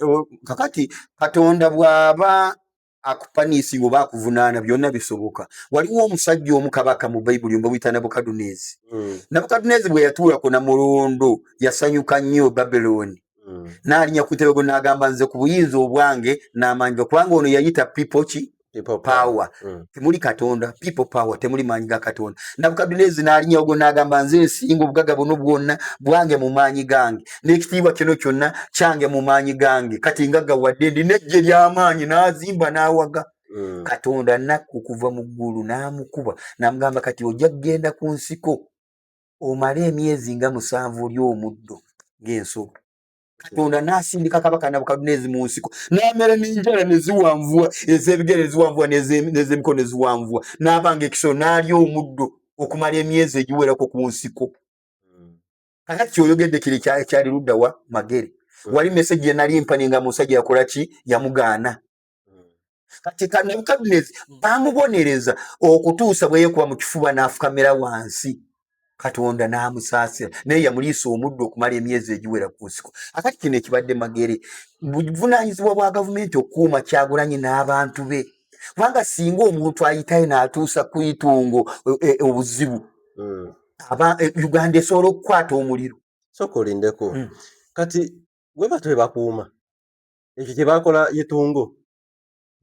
kakati katonda bw'aba akupaniisi oba akuvunaana byonna bisoboka waliwo omusajja omu kabaka mu bayibuli mba buyita nabukaduneezi mm. nabukaduneezi bwe yatuulako na mulondo yasanyuka nnyo babiloni mm. nalinya ku ntebe gwenagamba nze ku buyinza obwange n'amaanyi ga kubanga ono yayita people ki power mm. temuli katonda people power temuli maanyi ga katonda nabukadunezi nalinyawo gwe nagamba nze nsinga obugaga buno bwonna bwange mu maanyi gange n'ekitiibwa kino kyonna kyange mu maanyi gange kati nga gawadde ndi nejje ly'amaanyi n'azimba n'awaga mm. katonda nakku kuva mu ggulu n'amukuba n'amugamba kati ojja kugenda ku nsiko omale emyezi nga musanvu oli omuddo ng'enso katonda n'asindika kabaka nabukaduneezi mu nsiko n'amera n'enjala ne ziwanvuwa ez'ebigere eziwanvuwa n'ez'emikono eziwanvuwa n'aba nga ekisolo n'alya omuddo okumala emyezi egiwerako ku nsiko hmm. kakati kyoyogedde kiri kyali ludda wa magere wali mesegi yenali mpani nga musajja yakola ki yamugaana kati ka nebukadunezi hmm. bamubonereza okutuusa bwe yekuba mu kifuba n'afukamira wansi katonda n'amusaasira naye yamuliisa omuddu okumala emyezi egiwera ku nsiko akati kino ekibadde magere buvunaanyizibwa bwa gavumenti okukuuma kyagulanye n'abantu be kubanga singa omuntu ayitayo n'atuusa ku itungo e, e, obuzibu hmm. aba e, uganda esobola okukwata omuliro soka olindeko hmm. kati weba twebakuuma ekyo kyebakola yetongo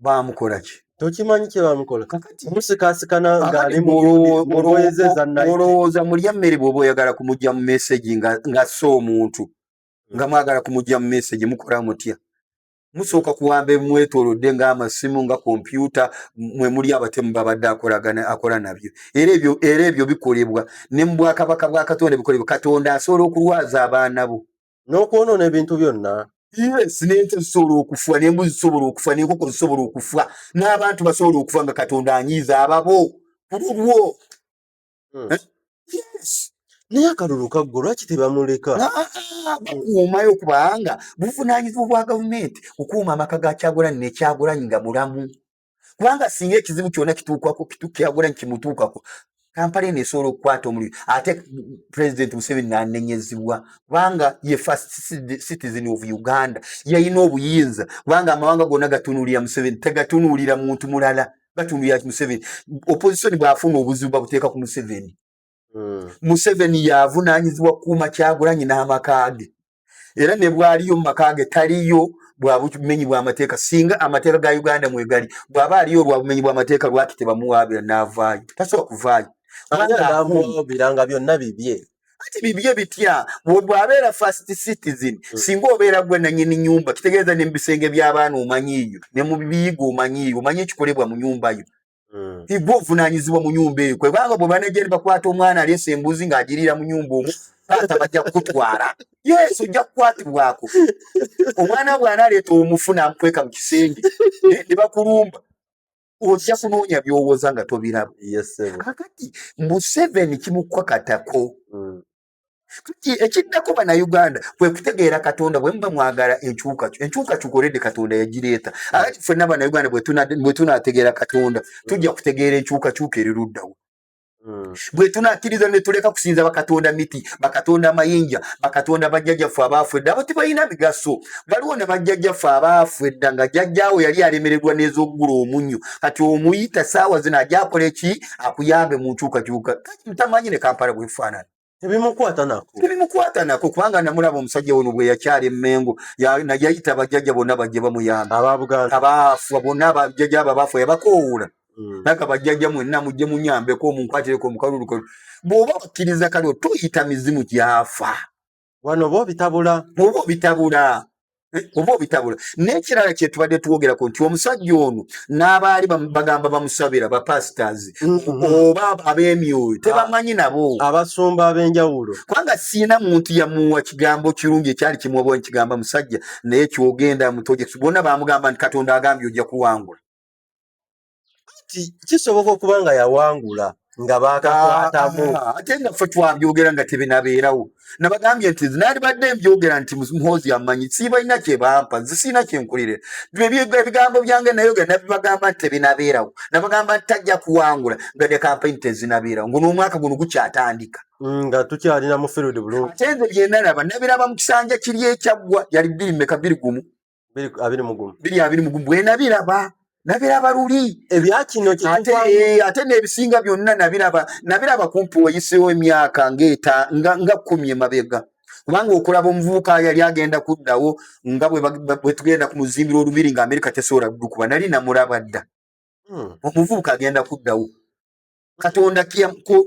bamukola ki tokimanyi kyebamukola kakati musikasikana ngaali mulowoozamulowooza mulya mmere bwoba oyagala kumugya mu mesegi ngassa omuntu nga mwagala kumugya mu mesegi mukola mutya musooka kuwamba emwetolodde ngaamasimu nga kompyuta mwe muli abatemu babadde akolagana akola nabyo era ebyo era ebyo bikolebwa ne mu bwakabaka bwa katonda bikolebwa katonda asobola okulwaza abaana bo n'okwonoona ebintu byonna yes n'ente zisobola okufa n'embuzi zisobola okufa n'enkoko zisobola okufa n'abantu basobola okufa nga katonda anyiiza ababo ku lulwo hmm. eh? yes naye akalulu kaggwo lwaki tebamuleka ah, ah, ah, bakuumayo kubanga buvunaanyizibwa bwa gavumenti okuuma amaka ga kyagulanyi nekyagulanyi nga mulamu kubanga singa ekizibu kyona kituukwako kitukyagola nti kimutuukako kampala eno esobola okukwata omuliro ate president museveni nanenyezibwa kubanga ye first citizen of uganda yalina obuyinza kubanga amawanga gona gatunuulira museveni tegatunuulira muntu mulala gatunuulira museveni opposition bwafuna obuzibu babuteeka ku museveni hmm. museveni yavunanyizibwa kukuuma kyagulanyi n'amaka ge era ne bwaliyo mu maka ge taliyo bwa bumenyi bw'amateeka singa amateeka ga uganda mwegali bw'aba aliyo olwa bumenyi bw'amateeka lwaki tebamuwaabira n'avaayo tasobola kuvaayo biranga byonna bibye kati bibye bitya bwabeera first citizen hmm. singa obeera gwe nanyini nyumba kitegeeza ne mubisenge by'abaana omanyiiyo ne mubiyiga omanyiiyo omanyi ekikolebwa mu nyumba yo Mm. igwe ovunanyizibwa mu nyumba eyo kwebanga bwe banejja ne bakwata omwana aleesa embuzi ng'agiriira mu nyumba omu taata bajja kukutwala yesu ojja kukwatibwako omwana bw'analeeta omufu n'amukweka mu kisenge ne bakulumba ojja kunoonya by'owoza nga tobiraba kakati museveni kimukkwakatako mm. ekiddako bannayuganda kwe kutegeera katonda bwe muba mwagala enkyukacu enkyukacuka olede katonda yagireeta ati ffenna bannayuganda bwe tunategeera katonda tujja kutegeera enkyukacuka eri luddawo hmm. bwe tunakkiriza ne tuleka kusinza bakatonda miti bakatonda amayinja bakatonda bajjajjaffe abaafu edda abo tebalina migaso waliwo ne bajjajjaffe abaafu edda nga jjajjaawo yali alemererwa n'ez'okugula omunyo kati omuyita saawa zino ajakola eki akuyambe mu nkyukacuka ntamanyi ne kampala bwefaanana ebimukwata nako ebimukwata nako kubanga namulaba omusajja ono bwe yakyala emmengo yayita bajjajja bonna bajje bamuyamba ababuganda abaafa bonna abajjajja abo abaafa yabakoowula hmm. naga bajjajja mwenna mujje munyambeko omunkwatireko omukalulukalu bw'oba bakkiriza kale toyita mizimu gyafa wano oba obitabula oba obitabula eh, oba obitabula n'ekirala kye tubadde twogerako nti omusajja ono n'abaali bagamba bamusabira bapasitors mm-hmm. oba ab'emyoyo ah. tebamanyi nabo abasumba ab'enjawulo kubanga siina muntu yamuwa kigambo kirungi ekyali kimuwabawo nkigamba musajja naye kyogenda mutoje bona bamugamba nti katonda agambye ojja kuwangula anti kisoboka okuba nga yawangula nga baakakwatamu ah, ah, ate nga ffe twabyogera nga tebinabeerawo nabagambye nti nalibadde mbyogera nti muhoozi amanyi siibalina kyebampa nze siina kyenkulire ebigambo byange nayoga nabibagamba nti tebinabeerawo nabagamba nti tajja kuwangula nga ne kampani tezinabeerawo ngo n'omwaka guno gukyatandika mm, nga tukyalina mu field bulungi ate nze byenalaba nabiraba mu kisanja kiri ekyaggwa yali bbiri meka bbiri gumu biri abiri mugumu biri abiri mugumu bwe nabiraba nabiraba luli ebya kino ate eh, ate n'ebisinga byonna nabiraba nabiraba kumpi wayiseewo emyaka ng'eta nga nga kkumi emabega kubanga okulaba omuvubuka yali agenda kuddawo nga bwe tugenda ku muzimbiro olubiri nga amerika tesobola kudukuba nali namulaba dda hmm. omuvubuka agenda kuddawo katonda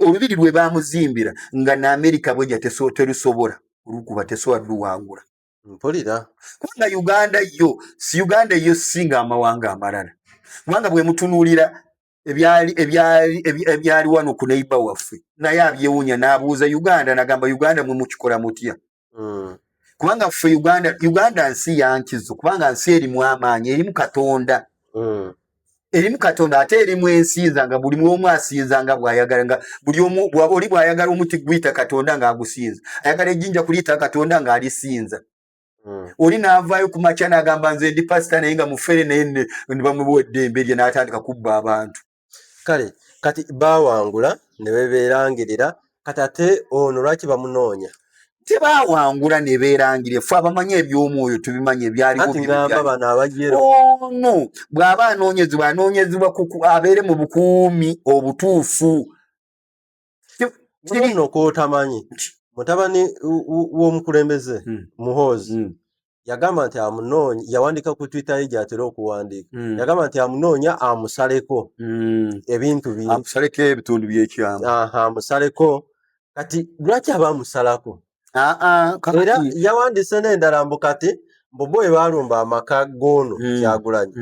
olubiri lwe bamuzimbira nga naamerika bweja terusobola olukuba tesobola luwangula mpulira kubanga uganda yo si uganda eyo singa amawanga amalala kubanga bwemutunuulira ebyali ebyali ebyali wano ku neiba waffe naye abyewunya n'abuuza uganda nagamba uganda mwe mukikola mutya hmm. kubanga ffe uganda uganda nsi yankizo kubanga nsi erimu amaanyi erimu katonda hmm. erimu katonda ate erimu ensinza nga buli mwomu asinza nga bwayagala nga buli omu bwaba oli bwayagala omuti guyita katonda nga agusinza ayagala ejjinja kuliyita katonda nga alisinza hmm. oli navaayo ku makya nagamba nze ndi pasita naye nga mufere naye nebamuwa eddembe lye natandika kubba abantu kale kati bawangula nebeberangerera kati ate ono lwaki bamunoonya tebawangula ne beerangire fe abamanyi eby'omwoyo tubimanyi ebyaliwobiamba bano abajeru ono bw'aba anoonyezebwa anoonyezebwa abeere mu bukuumi obutuufu kino kwotamanyi mutabani w'omukulembeze hmm. muhoozi hmm. yagamba nti amunoonya yawandiika ku twitter ye gyatera okuwandiika mm. yagamba nti amunoonya amusaleko mm. ebintu byeamusaleko ebitundu byekyamu amusaleko kati lwaki aba amusalako ah, ah, era yawandiise n'endala mbu kati mbubo ebaalumba amaka goono mm. kyagulanyi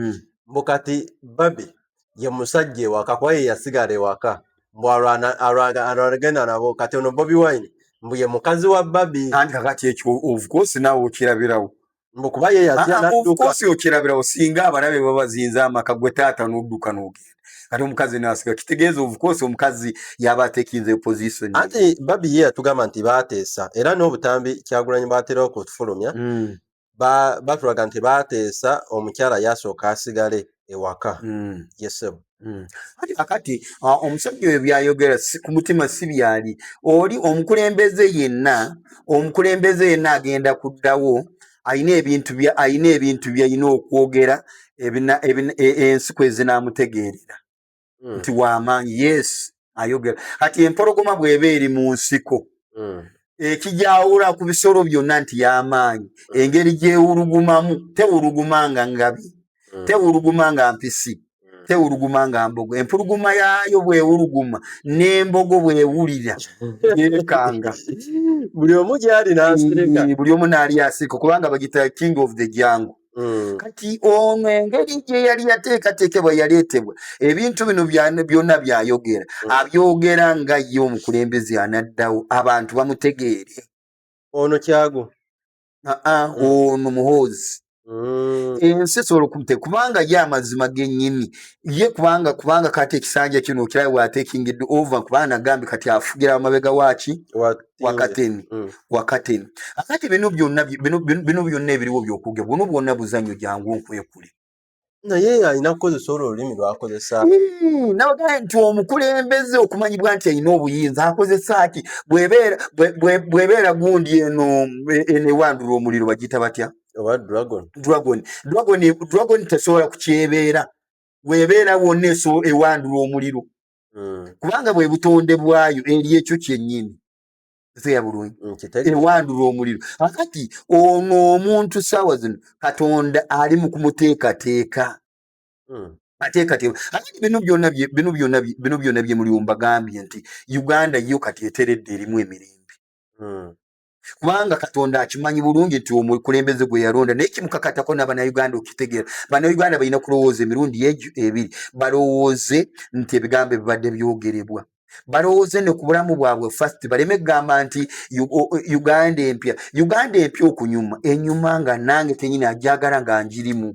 mbu kati babi ye musajja ewaka kuba ye yasigala ewaka mbu alwana- alwana- alwanagenda nabo kati ono bobi wine mbu ye mukazi wa babi anti kakati ekyo of course naawe okirabirawo mbu kuba ye yatya Ah, ah, of nadduka course okirabirawo singa abalabe babazinza amaka gwe taata n'odduka n'ogenda kati omukazi naasiga kitegeeza of course omukazi yaba atekinze position anti babi ye yatugamba nti baateesa era n'obutambi kyagulanyi bwatera okufulumya Mm. ba- batulaga nti baateesa omukyala yasooka asigale ewaka Mm. ye ssebo Mm. Kati kakati ah, omusajja oyo byayogera si- ku mutima si byali oli omukulembeze yenna omukulembeze yenna agenda kuddawo alina ebintu bya alina ebintu byalina okwogera ebina- ebina- e- ensi kwe zinaamutegeerera mm. nti wamaanyi yes ayogera kati empologoma bweba eri mu nsiko mm. ekijawula ku bisolo byonna nti yamaanyi mm. engeri gyewulugumamu tewuluguma nga ngabi mm. tewuluguma nga mpisi mm. tewuluguma nga mbogo empuluguma yaayo bwewuluguma n'embogo bwewulira yekanga buli omu gyali nasireka buli omu naali asirika kubanga bagita king of the jango Mm. kati ono engeri gye yali yateekateekebwa yaleetebwa ebintu bino byonna byayogera mm. abyogera nga ye omukulembeze anaddawo abantu bamutegeere ono kyago aa mm. ono muhoozi ensi esobola okumute kubanga ye amazima genyini ye kubanga kubanga kati ekisanja kino okiraba bwatekingidd ova kubanga nagambe kati afugira amabega waki wakateni mm. wakateni akati bino byonna bino byonna ebiriwo byokuge buno bwonna buzanyo jangu nkwekule naye alina kukozesa olwo olulimi lwakozesa hmm, nabagaa nti omukulembeze okumanyibwa nti alina obuyinza akozesa ki bwebeera gundi eno enewandula omuliro bagiyita batya oba dragon dragon dragon dragon tesobola kukyebeera webeera wonna eso ewandula omuliro mm. kubanga bwe butonde bwayo eri ekyo kyennyini ezeya bulungi mm, ewandula omuliro akati ono omuntu saawa zino katonda ali mu kumuteekateeka mm. ateekateeka akati bino byona bino byona bino byona bye muli ombagambye nti uganda yo kati eteredde erimu emirembe mm. kubanga katonda akimanyi bulungi nti omukulembeze gwe yalonda naye kimukakatako nabanauganda okitegeera banauganda balina kulowooza emirundi egyo ebiri balowooze nti ebigambo ebibadde byogerebwa balowooze ne ku bulamu bwabwe fast baleme kugamba nti uganda empya uganda empya okunyuma enyuma nga nange kenyini ajagala nga njirimu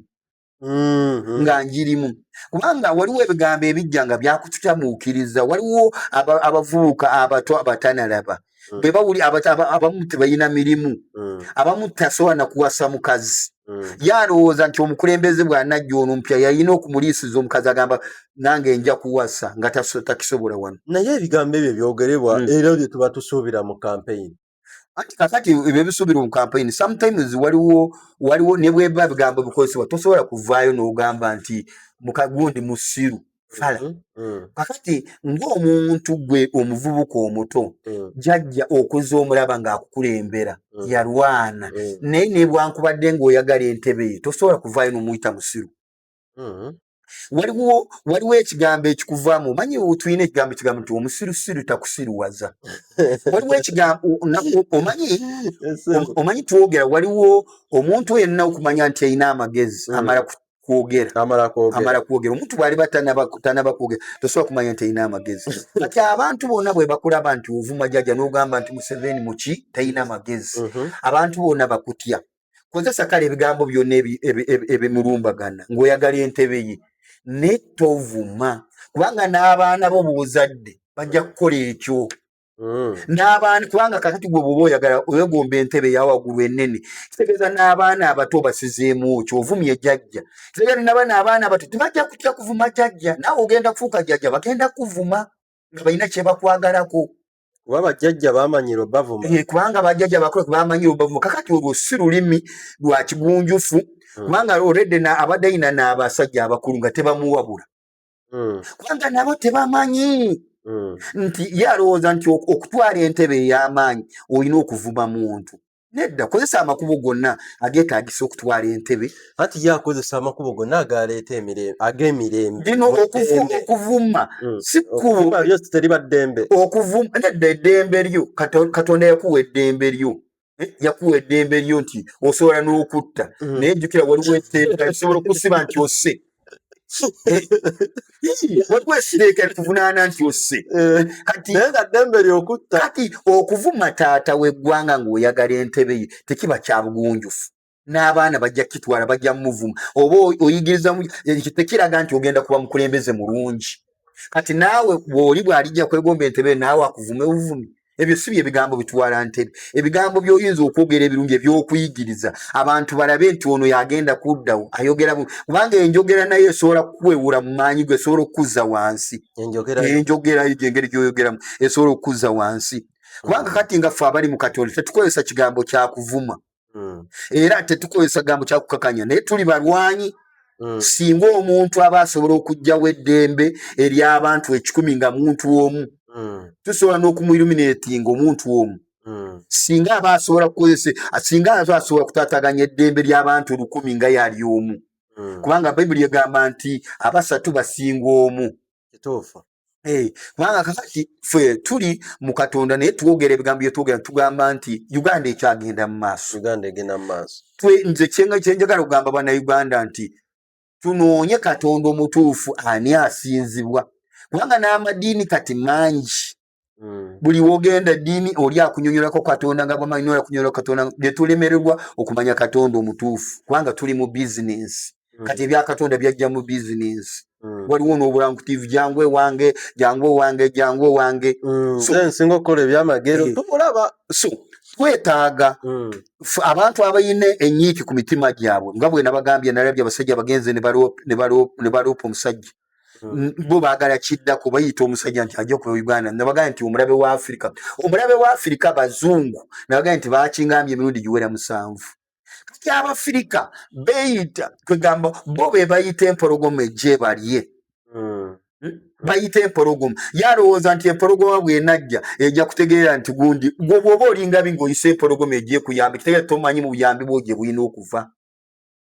Mm-hmm. nga njirimu kubanga waliwo ebigambo ebijja nga byakututamuukiriza waliwo abavubuka abato abatanalaba mm. bwe bawuli abamu tebalina mirimu mm. abamu tasobola nakuwasa mukazi mm. ye alowooza nti omukulembeze bwanajja ono mpya yalina okumuliisiza omukazi agamba nange nja kuwasa nga takisobola wano naye ebigambo ebyo byogerebwa era byetuba tusuubira mu kampeyini anti kakati ebyo ebisuubirwa mu campaign sometimes waliwo waliwo ne bweba bigambo bikozesebwa tosobola kuvaayo n'ogamba nti mukagundi musiru fala mm -hmm. kakati ng'omuntu gwe omuvubuka omuto mm -hmm. jajja okuza omulaba ng'akukulembera mm -hmm. yalwana mm -hmm. naye nebwankubadde ng'oyagala entebe ye tosobola kuvaayo n'omuyita musiru mm. waliwo waliwo ekigambo ekikuvaamu omanyi tulina ekigambo ekigambo nti omusirusiru takusiruwaza waliwo ekigambo omanyi omanyi twogera waliwo omuntu yenna okumanya nti alina amagezi mm. amala kwogera amala kwogera omuntu bwaliba tanaba kwogera tosobola kumanya nti alina amagezi kati abantu bona bwebakulaba nti ovuma jaja nogamba nti museveni muki talina magezi mm-hmm. abantu bona bakutya kozesa kale ebigambo byonna ebimulumbagana ng'oyagala entebe ye naye tovuma kubanga n'abaana bo buzadde bajja kukola ekyo hmm. n'abaana kubanga kakati gwe bwoba oyagala oyegomba entebe yawaggulu enene kitegeeza n'abaana abato basizeemu kyo ovumye jajja kitegeeza nabana abaana abato tebajja kutya kuvuma jajja naawe ogenda kufuuka jajja bagenda kuvuma nga balina kyebakwagalako kuba bajjajja bamanyiro bavuma eh, kubanga bajjajja bakulu bamanyiro bavuma kakati olwo si lulimi lwa kigunjufu hmm. kubanga already na abadde yina n'abasajja abakulu nga tebamuwabula hmm. kubanga nabo tebamanyi hmm. nti ye alowooza nti okutwala entebe ey'amaanyi olina okuvuma muntu nedda kozesa amakubo gonna agetagisa okutwala entebe ati ye akozesa amakubo gonna agaleeta emirembe ag'emirembe lino okuvuma mm. sikuteriba ddembe okuvuma nedda eddembe lyo katonda yakuwa eddembe lyo eh, yakuwa eddembe lyo nti osobola n'okutta mm. naye jjukira waliwo etteeka esobola okusiba nti ose wekwesireka tuvunaana nti osse eh, naye nga ddembe lyokutta kati okuvuma taata weggwanga ngaoyagala entebe ye tekiba kyabugunjufu n'abaana bajja kitwala bajja mumuvuma oba oyigiriza ekyo tekiraga nti ogenda kuba mukulembeze mulungi kati naawe bwoli bwalijja kwegomba entebe naawe akuvume buvumi ebyo si byebigambo bitwala ntebe ebigambo byoyinza okwogera ebirungi ebyokuyigiriza abantu balabe nti ono yagenda kuddawo ayogera kubanga enjogera naye esobola kukwewura mu maanyi gwe esobola okukuzza wansi enjogerayo gyengeri gyoyogeramu esobola okukuzza wansi kubanga kati nga ffe abali mu katonda tetukozesa kigambo kyakuvuma mm. era tetukozesa gambo kyakukakanya naye tuli balwanyi mm. singa omuntu aba asobola okugjawo eddembe ery'abantu ekikumi nga muntu omu mm. tusobola n'okumuiluminatinga omuntu omu mm. singa aba asobola kukozesa singa azo asobola kutataganya eddembe ly'abantu lukumi nga yali omu mm. kubanga bayibuli egamba nti abasatu basinga omu kituufu Eh, kubanga kakati fe tuli mu katonda naye twogera ebigambo byetwogera tugamba nti uganda ekyagenda mu maaso uganda egenda mu maaso twe nze kyenga kyenjagala okugamba bana uganda nti tunoonye katonda omutuufu ani asinzibwa kubanga n'amadiini kati mangi Mm. buli wogenda ddiini oli akunyonyolako katonda nga bwamanyi oli akunyonyola katonda byetulemererwa okumanya katonda omutuufu kubanga tuli mu bizinensi mm. kati ebyakatonda byajja mu bizinensi mm. waliwo nobulankutiv jangu ewange jangu owange jangu owange nsinga okukola ebyamagero eh. tubulaba so twetaaga abantu abalina enyiiki ku mitima gyabwe nga bwenabagambye nalabye abasajja bagenze ne baloopa omusajja Mm. bo bagala kidda ku bayita omusajja nti ajja okuva uganda nabagala nti omulabe wa afirika omulabe wa afirika bazungu nabagala nti bakingambye emirundi giwera musanvu kati abafirika beyita kwegamba bo be bayita empologoma ejje balye mm. hmm? bayita empologoma yalowooza nti empologoma bwenajja ejja kutegeera nti gundi gwobwoba olingabi ngaoyisa empologoma ejekuyambi kitegera tomanyi mu buyambi bwo gye bulina okuva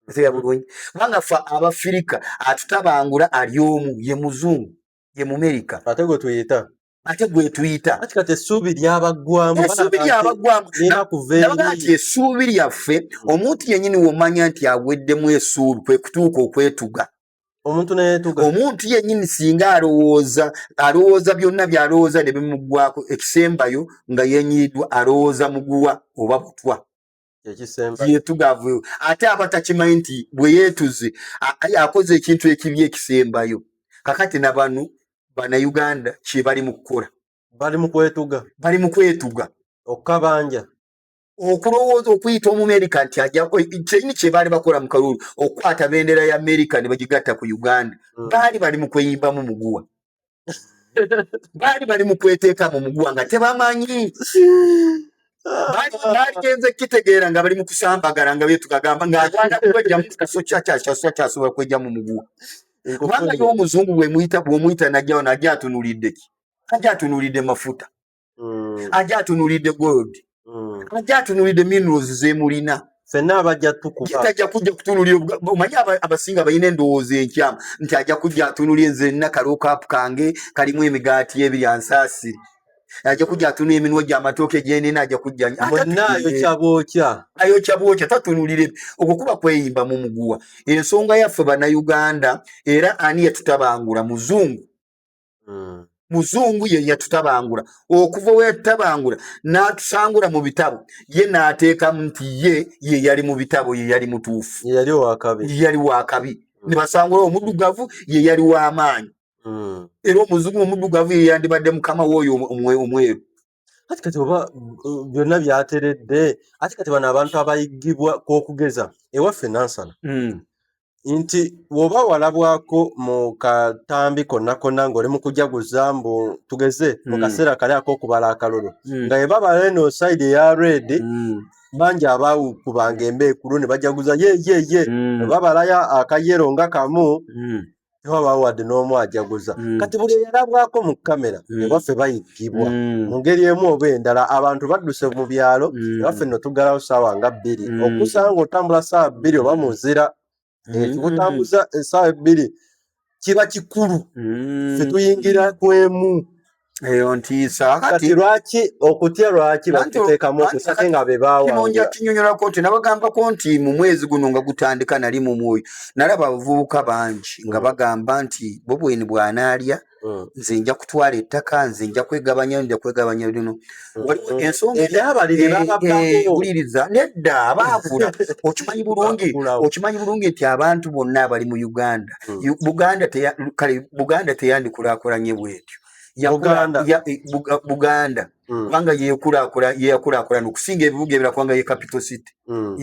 otegeera bulungi kubanga fe abafirika atutabangula ali omu ye muzungu ye mumerika ate gwe tuyita ate gwetuyita kati essuubi lyabaggwamu essuubi lyabaggwamu nabagaa nti essuubi lyaffe omuntu yenyini womanya nti aweddemu essuubi kwe kutuuka okwetuga omuntu neyetuga omuntu yenyini singa alowooza alowooza byonna byalowooza ne bimuggwako ekisembayo nga yenyiridwa alowooza muguwa oba butwa yetugavu ate aba takimanyi nti bweyetuze akoze ekintu ekibi ekisembayo kakati nabanu banauganda kyebali mukukola bali mukwetuga bali mukwetuga okukabanja okulowooza okuyita omumerika nti kyeyini kyebaali bakola mu kalulu okukwata bendera ya amerika ne bagigatta ku uganda mm. baali bali mu kweyimbamu muguwa baali bali mu kweteeka mu muguwa nga tebamanyi bagenze kitegeera nga bali mu kusambagala nga byetukagamba nga agenda kwejja mu kifo kyakyakyasoa kyasobola kwejja mu muguwa kubanga ye omuzungu bwemuyita bwomuyita najjawo najja atunulidde ki ajja atunulidde mafuta mm. aja atunulidde gold mm. aja atunulidde minerals zemulina fenna abajja tukubatajja kujja kutunulira omanyi abasinga balina endowooza enkyamu nti ajja kujja atunulira nze nina kalokaapu kange kalimu emigaati ebiri ansaasire ajja kujja atunulira eminwa gyamatooke gyenina ajja kujjaayokyabookya tatunulire okwo kuba kweyimba mu muguwa ensonga yaffe bannayuganda era ani yatutabangula muzungu mm. muzungu ye yatutabangula okuva we yatutabangula n'atusangula mu bitabo ye n'ateekamu nti ye ye yali mu bitabo ye yali mutuufu ye yali wakabi ye yali wakabi mm. ne basangula omuddugavu ye yali w'amaanyi mm. era omuzungu omuddugavu ye yandibadde mukama w'oyo omweru kati kati oba byonna byateredde ati kati bano abantu abayiggibwa kwokugeza ewaffe nansana hmm. nti woba walabwako mu katambi konna konna ngaoli mu kujaguza mbu tugeze mu hmm. kaseera kali akokubala akalulu hmm. nga ebabala eno saidi eya red bangi abaawukubanga embeekulu ne bajaguza yeyeye ebabalayo akayero nga kamu tewabaawo wadde n'omu ajaguza mm. kati buli eyalabwako mu kamera mm. ewaffe bayiggibwa mm. mu ngeri emu oba endala abantu badduse mu byalo ewaffe no tuggalawo saawa nga bbiri okusanga otambula saawa bbiri oba muzira ekibutambuza eh, esaawa ebbiri kiba kikulu fe tuyingira kwemu eyo ntiisa kati lwaki okutya lwaki bakiteekamu okutya ate nga be baawangira kinyonyolako nti nabagambako nti mu mwezi guno nga gutandika nali mu mwoyo nalaba abavubuka bangi nga mm. bagamba nti bo bweni bwanaalya mm. nze nja kutwala ettaka nze nja kwegabanya nja kwegabanya lino mm. waliwo ensonga eyabaliriza eh, eh, nedda abaakula okimanyi bulungi okimanyi bulungi nti abantu bonna abali mu uganda buganda kale buganda teyandikulakulanye bwetyo bwatyo buganda mm. kubanga yeyakulakula nokusinga ebibuga ebira kubanga ye capital city mm.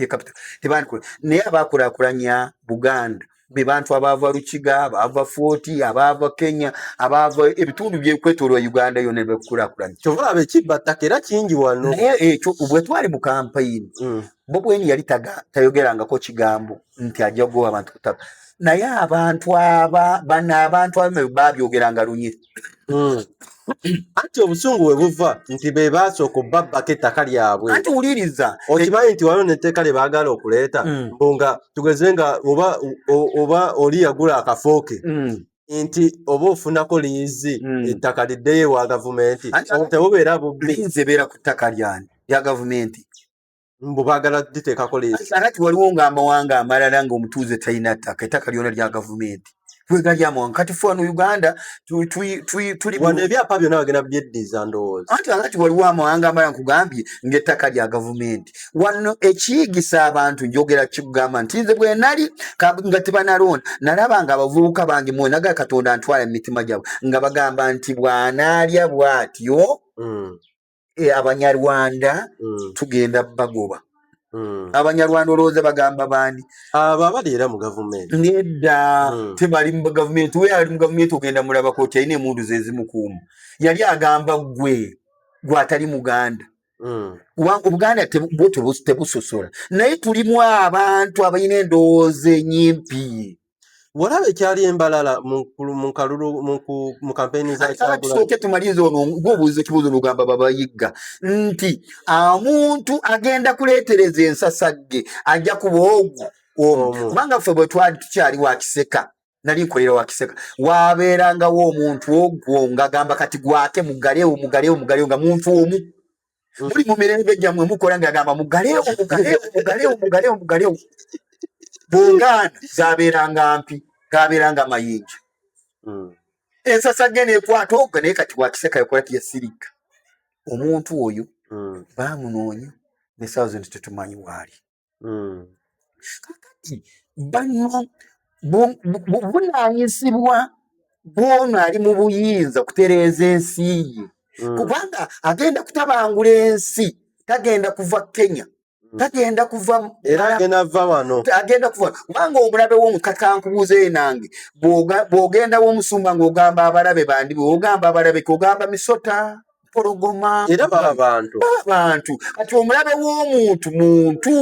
naye abakulakulanya buganda bebantu abaava lukiga abaava foti abaava kenya abaava ebitundu byekwetolwa uganda yona bekukulakulanya kyova abekibattaka era kingi wano naye ekyo bwetwali mu kampayini mm. bobweni yali tayogerangako kigambo nti ajja kugoba abantu ku ttaka naye abantu aba bano abantu abamu babyogeranga lunye hmm. anti obusungu we buva nti be baasooka obbabbako ettaka lyabwe anti wuliriza okimanyi nti waliwo netteeka lye baagala okuleeta hmm. mbu nga tugeze nga oba oba oli yagula akafooke hmm. nti oba ofunako liizi ettaka liddeyo ewa gavumenti tebubeera bubbi liizi ebeera ku ttaka lyani lya gavumenti mbu bagala diteekako leesi kakati waliwo nga amawanga amalala nga omutuuze talina ttaka ettaka lyona lya gavumenti twegali amawanga kati fe wano uganda tuliwano ebyapa byona bagenda byeddiza ndowooza anti kakati waliwo amawanga amalala nkugambye ngaettaka lya gavumenti wano ekiyigisa abantu njogera kikugamba nti nze bwenali nga tebanaloona nalaba nga abavubuka bange mwenaga katonda ntwala mu mitima gyabwe nga bagamba nti bwanaalya bwatyo mm. eh, abanyarwanda mm. tugenda bagoba mm. abanyarwanda olowooza bagamba bandi abo abali era mu gavumenti nedda mm. tebali mu gavumenti we ali mu gavumenti ogenda mulabako ti alina emundu zezimukuuma yali agamba gwe gwatali muganda Mm. obuganda tebusosola naye tulimu abantu abalina endowooza enyimpi Walabe kyali embalala mu mu kalulu mu ku mu campaign za kyagula. Tusoke tumalize ono ngobuze kibuzo lugamba baba yigga nti amuntu agenda kuletereza ensasagge ajja kubogo omu kubanga ffe bwe twali tukyali wa kiseka nali nkolera wa kiseka wabeerangawo omuntu ogwo ngagamba kati gwake mugalewo mugalewo mugalewo nga muntu omu muli mu mirembe gyammwe mukola ngagamba mugalewo mugalewo mugalewo mugalewo mugalewo bungaana zabeeranga mpi gabeeranga mayinja hmm. ensasa ge nekwata oga naye kati wakiseka yakola tiyasirika omuntu oyo hmm. bamunoonya ne thousand tetumanyi waali Hmm. kakati bano buvunanyizibwa bwono ali mu buyinza okutereeza ensi ye hmm. kubanga agenda kutabangula ensi tagenda kuva kenya hmm. tagenda kuva era agenda va wano agenda kuva kubanga omulabe womukakankubuuza ye nange bwogenda womusumba ngaogamba abalabe bandi bwogamba abalabe kogamba misota mpologoma era baba bantu baba bantu kati omulabe w'omuntu muntu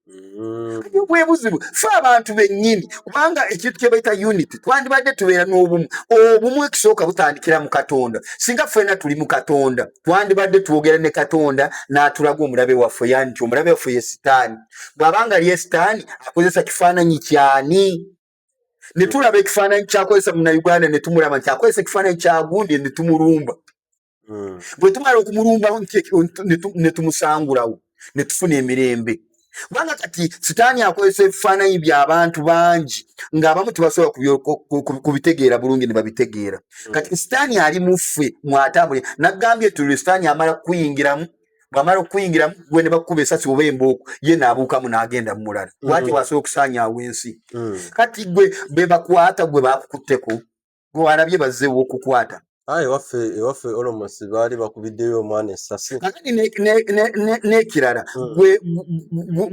mm. kati obwebuzibu fe abantu bennyini kubanga ekintu kyebaita unit twandibadde tubeera n'obumu obumu ekisooka butandikira mu katonda singa ffena tuli mu katonda twandibadde twogera ne katonda n'atulaga omulabe waffe yani nti omulabe waffe ye sitaani bw'abanga lye sitaani akozesa kifaananyi kyani ne tulaba ekifaananyi kyakozesa munauganda ne tumulaba nti akozesa ekifaananyi kyagundi ne tumulumba hmm. bwe tumala okumulumbawo ne tumusangulawo ne tufuna emirembe kubanga kati sitaani akozesa ebifaananyi by'abantu bangi ng'abamu tebasobola kubitegeera bulungi ne babitegeera hmm. kati sitaani ali mu ffe mwatambule naggambye tulule sitaani amala kukuyingiramu bwamala okukuyingiramu gwe ne bakukuba esasi oba embooko ye naabuukamu n'agenda mu mulala mm. lwaki wasobola okusaanyaawo ensi mm. kati gwe be bakwata gwe baakukutteko gwe walabye bazzeewo okukwata aye waffe ewaffe olomosi baali bakubiddeyo omwana esasi kakati n'ekirala mm.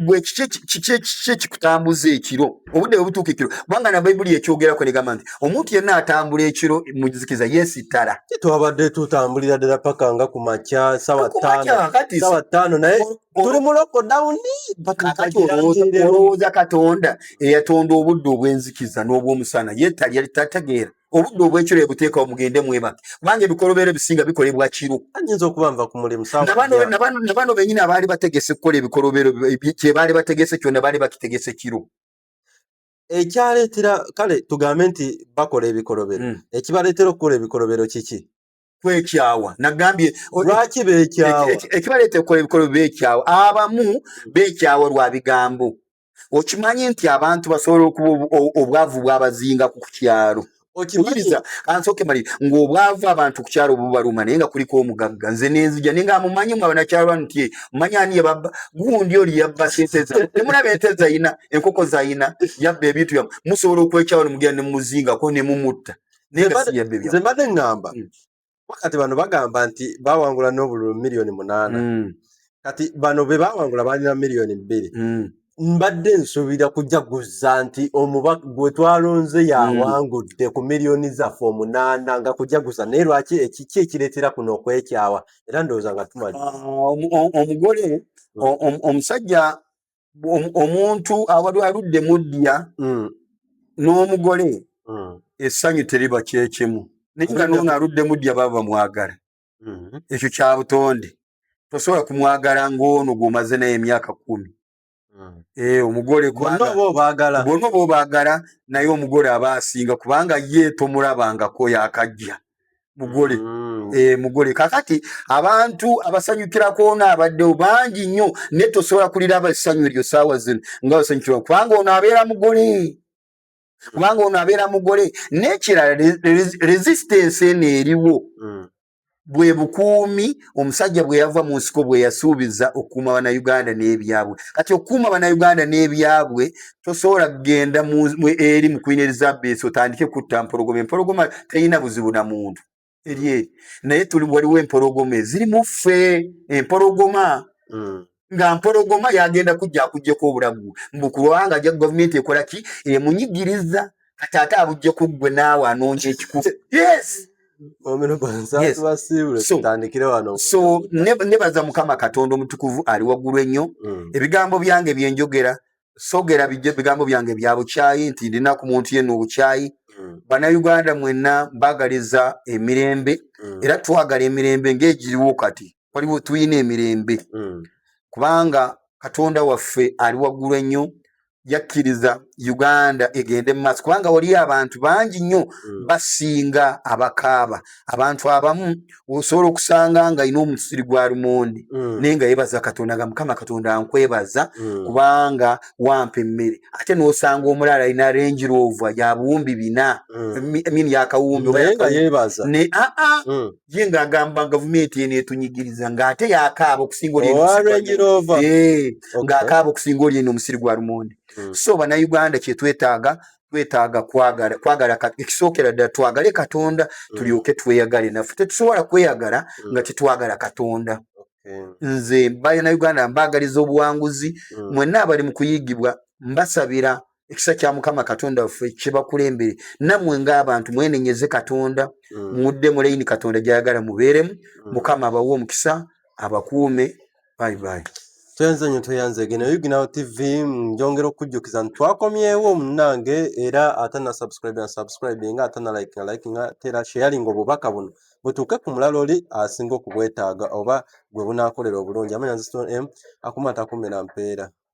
gwe kiki ekikutambuza ekiro obudde bwe butuuka ekiro kubanga na bayibuli yekyogerako negamba nti omuntu yenna atambula ekiro muzikiza yesittala twabadde tutambulira ddala paka nga ku makya sawa ttaano naye tuli mu lokodawuni olowooza katonda eyatonda obudde obwenzikiza n'obwomusana yetali yali tategeera obudde obwekiro ebuteekawo mugende mwebake kubanga ebikolobero ebisinga bikolebwa kiro ayinza okuba nva ku mulimu nabano benyini abaali bategese kukola ebikolobero kyebaali bategese kyona baali bakitegese kiro ekyaleetera kale tugambe nti bakola ebikolobero hmm. ekibaleetera okukola ebikolobero kiki kwekyawa nagambye lwaki bekyawa ekibaleetera okukola ebikolobero bekyawa abamu bekyawa lwa bigambo okimanyi nti abantu basobola okuba obwavu bwabazinga ku kukyalo okibiriza ansooke malire ng'obwavu abantu ku kyalo obubaluma naye nga kuliko omugagga nze nenzija naye nga mumanyi mwe abanakyalo bano ti mumanyi ani yebabba gundi oli yabba sente za temulaba ente zayina enkoko zayina yabba ebintu byamu musobola okwekyawano mugenda nemumuzingako nemumutta naye nga siyabbe byamu nze mbadde ngamba mm. kati bano bagamba nti bawangula n'obululu miliyoni munaana mm. kati bano be bawangula balina miliyoni bbiri mm. mbadde nsuubira kujaguza nti omubaka gwe twalonze yawangudde ku miliyoni zaffe omunaana nga kujaguza naye lwaki ekiki ekireetera kuno okwekyawa era ndowooza nga tumali ah, omugole omusajja omuntu awali aludde muddiya mm. n'omugole mm. essanyu teriba kyekimu naye nga noono aludde muddiya baba bamwagala mm-hmm. ekyo kya butonde tosobola kumwagala ng'ono gw'omaze naye emyaka kumi mm. eh, omugole bonna oba obaagala naye omugole aba asinga kubanga ye tomulabangako yakajja mugole mm. eh, mugole kakati abantu abasanyukira kwona abaddewo bangi nnyo naye tosobola kuliraba essanyu eryo saawa zino nga basanyukirwa kubanga ono abeera mugole kubanga ono abeera mugole n'ekirala resistance eno eriwo mm. bwe bukuumi omusajja bwe yava mu nsiko bwe yasuubiza okukuuma bannayuganda n'ebyabwe kati okukuuma bannayuganda n'ebyabwe tosobola kugenda eri mu kwina elizabeth otandike kutta mpologoma empologoma terina buzibu na muntu eri eri naye tuli waliwo empologoma eziri mu ffe empologoma mm. nga mpologoma yagenda kujja akujjeko obulamu mbu kubanga ja gavumenti ekola ki emunyigiriza kati ate abujje ku ggwe naawe anoonya ekikufu yes so nebaza mukama katonda omutukuvu ali waggulu ennyo mm. ebigambo byange byenjogera sogera bigambo byange bya bukyayi nti ndina ku muntu yenna obukyayi mm. bannayuganda mwenna mbagaliza emirembe mm. era twagala emirembe ngaegiriwo kati waliwo tulina emirembe mm. kubanga katonda waffe ali waggulu ennyo yakkiriza uganda egende mumaaso kubanga waliyo abantu bangi nnyo mm. basinga abakaaba abantu abamu osobola okusanga nga alina omusiri gwa lumonde mm. naye nga yebaza katonda nga mukama katonda nkwebaza mm. kubanga wampa emmere ate nosanga omulala alina range rover yabuwumbi bina mm. min yakawumbi naye nga yebaza ne aa ah, ah. mm. ye ng'agamba gavumenti eno etunyigiriza ng'ate yakaaba okusinga oli eh, ng'akaaba okusinga oli eno omusiri gwa lumonde hmm. so bannayuganda kyetwetaaga twetaaga kwagala kwagala ekisookera ddala twagale katonda hmm. tulyoke tweyagale naffe tetusobola kweyagala hmm. nga tetwagala katonda nze bannayuganda mbaagaliza obuwanguzi mwenna abali mu kuyigibwa mbasabira ekisa kya mukama katonda waffe kibakulembere namwe ngaabantu mwenenyeze katonda mm. mudde mulayini katonda gyayagala mubeeremu mm. mukama abawe omukisa abakuume bayibayi tweyanze nyo tweyanze gene yuginawo tv njongera okujjukiza nti twakomyewo munange era ate na subscribe na subscribe nga ate na like na like nga tera sharing obubaka buno butuuke ku mulala oli asinga okubwetaaga oba gwe bunakolera obulungi amanya nziston m akumata kumira mpeera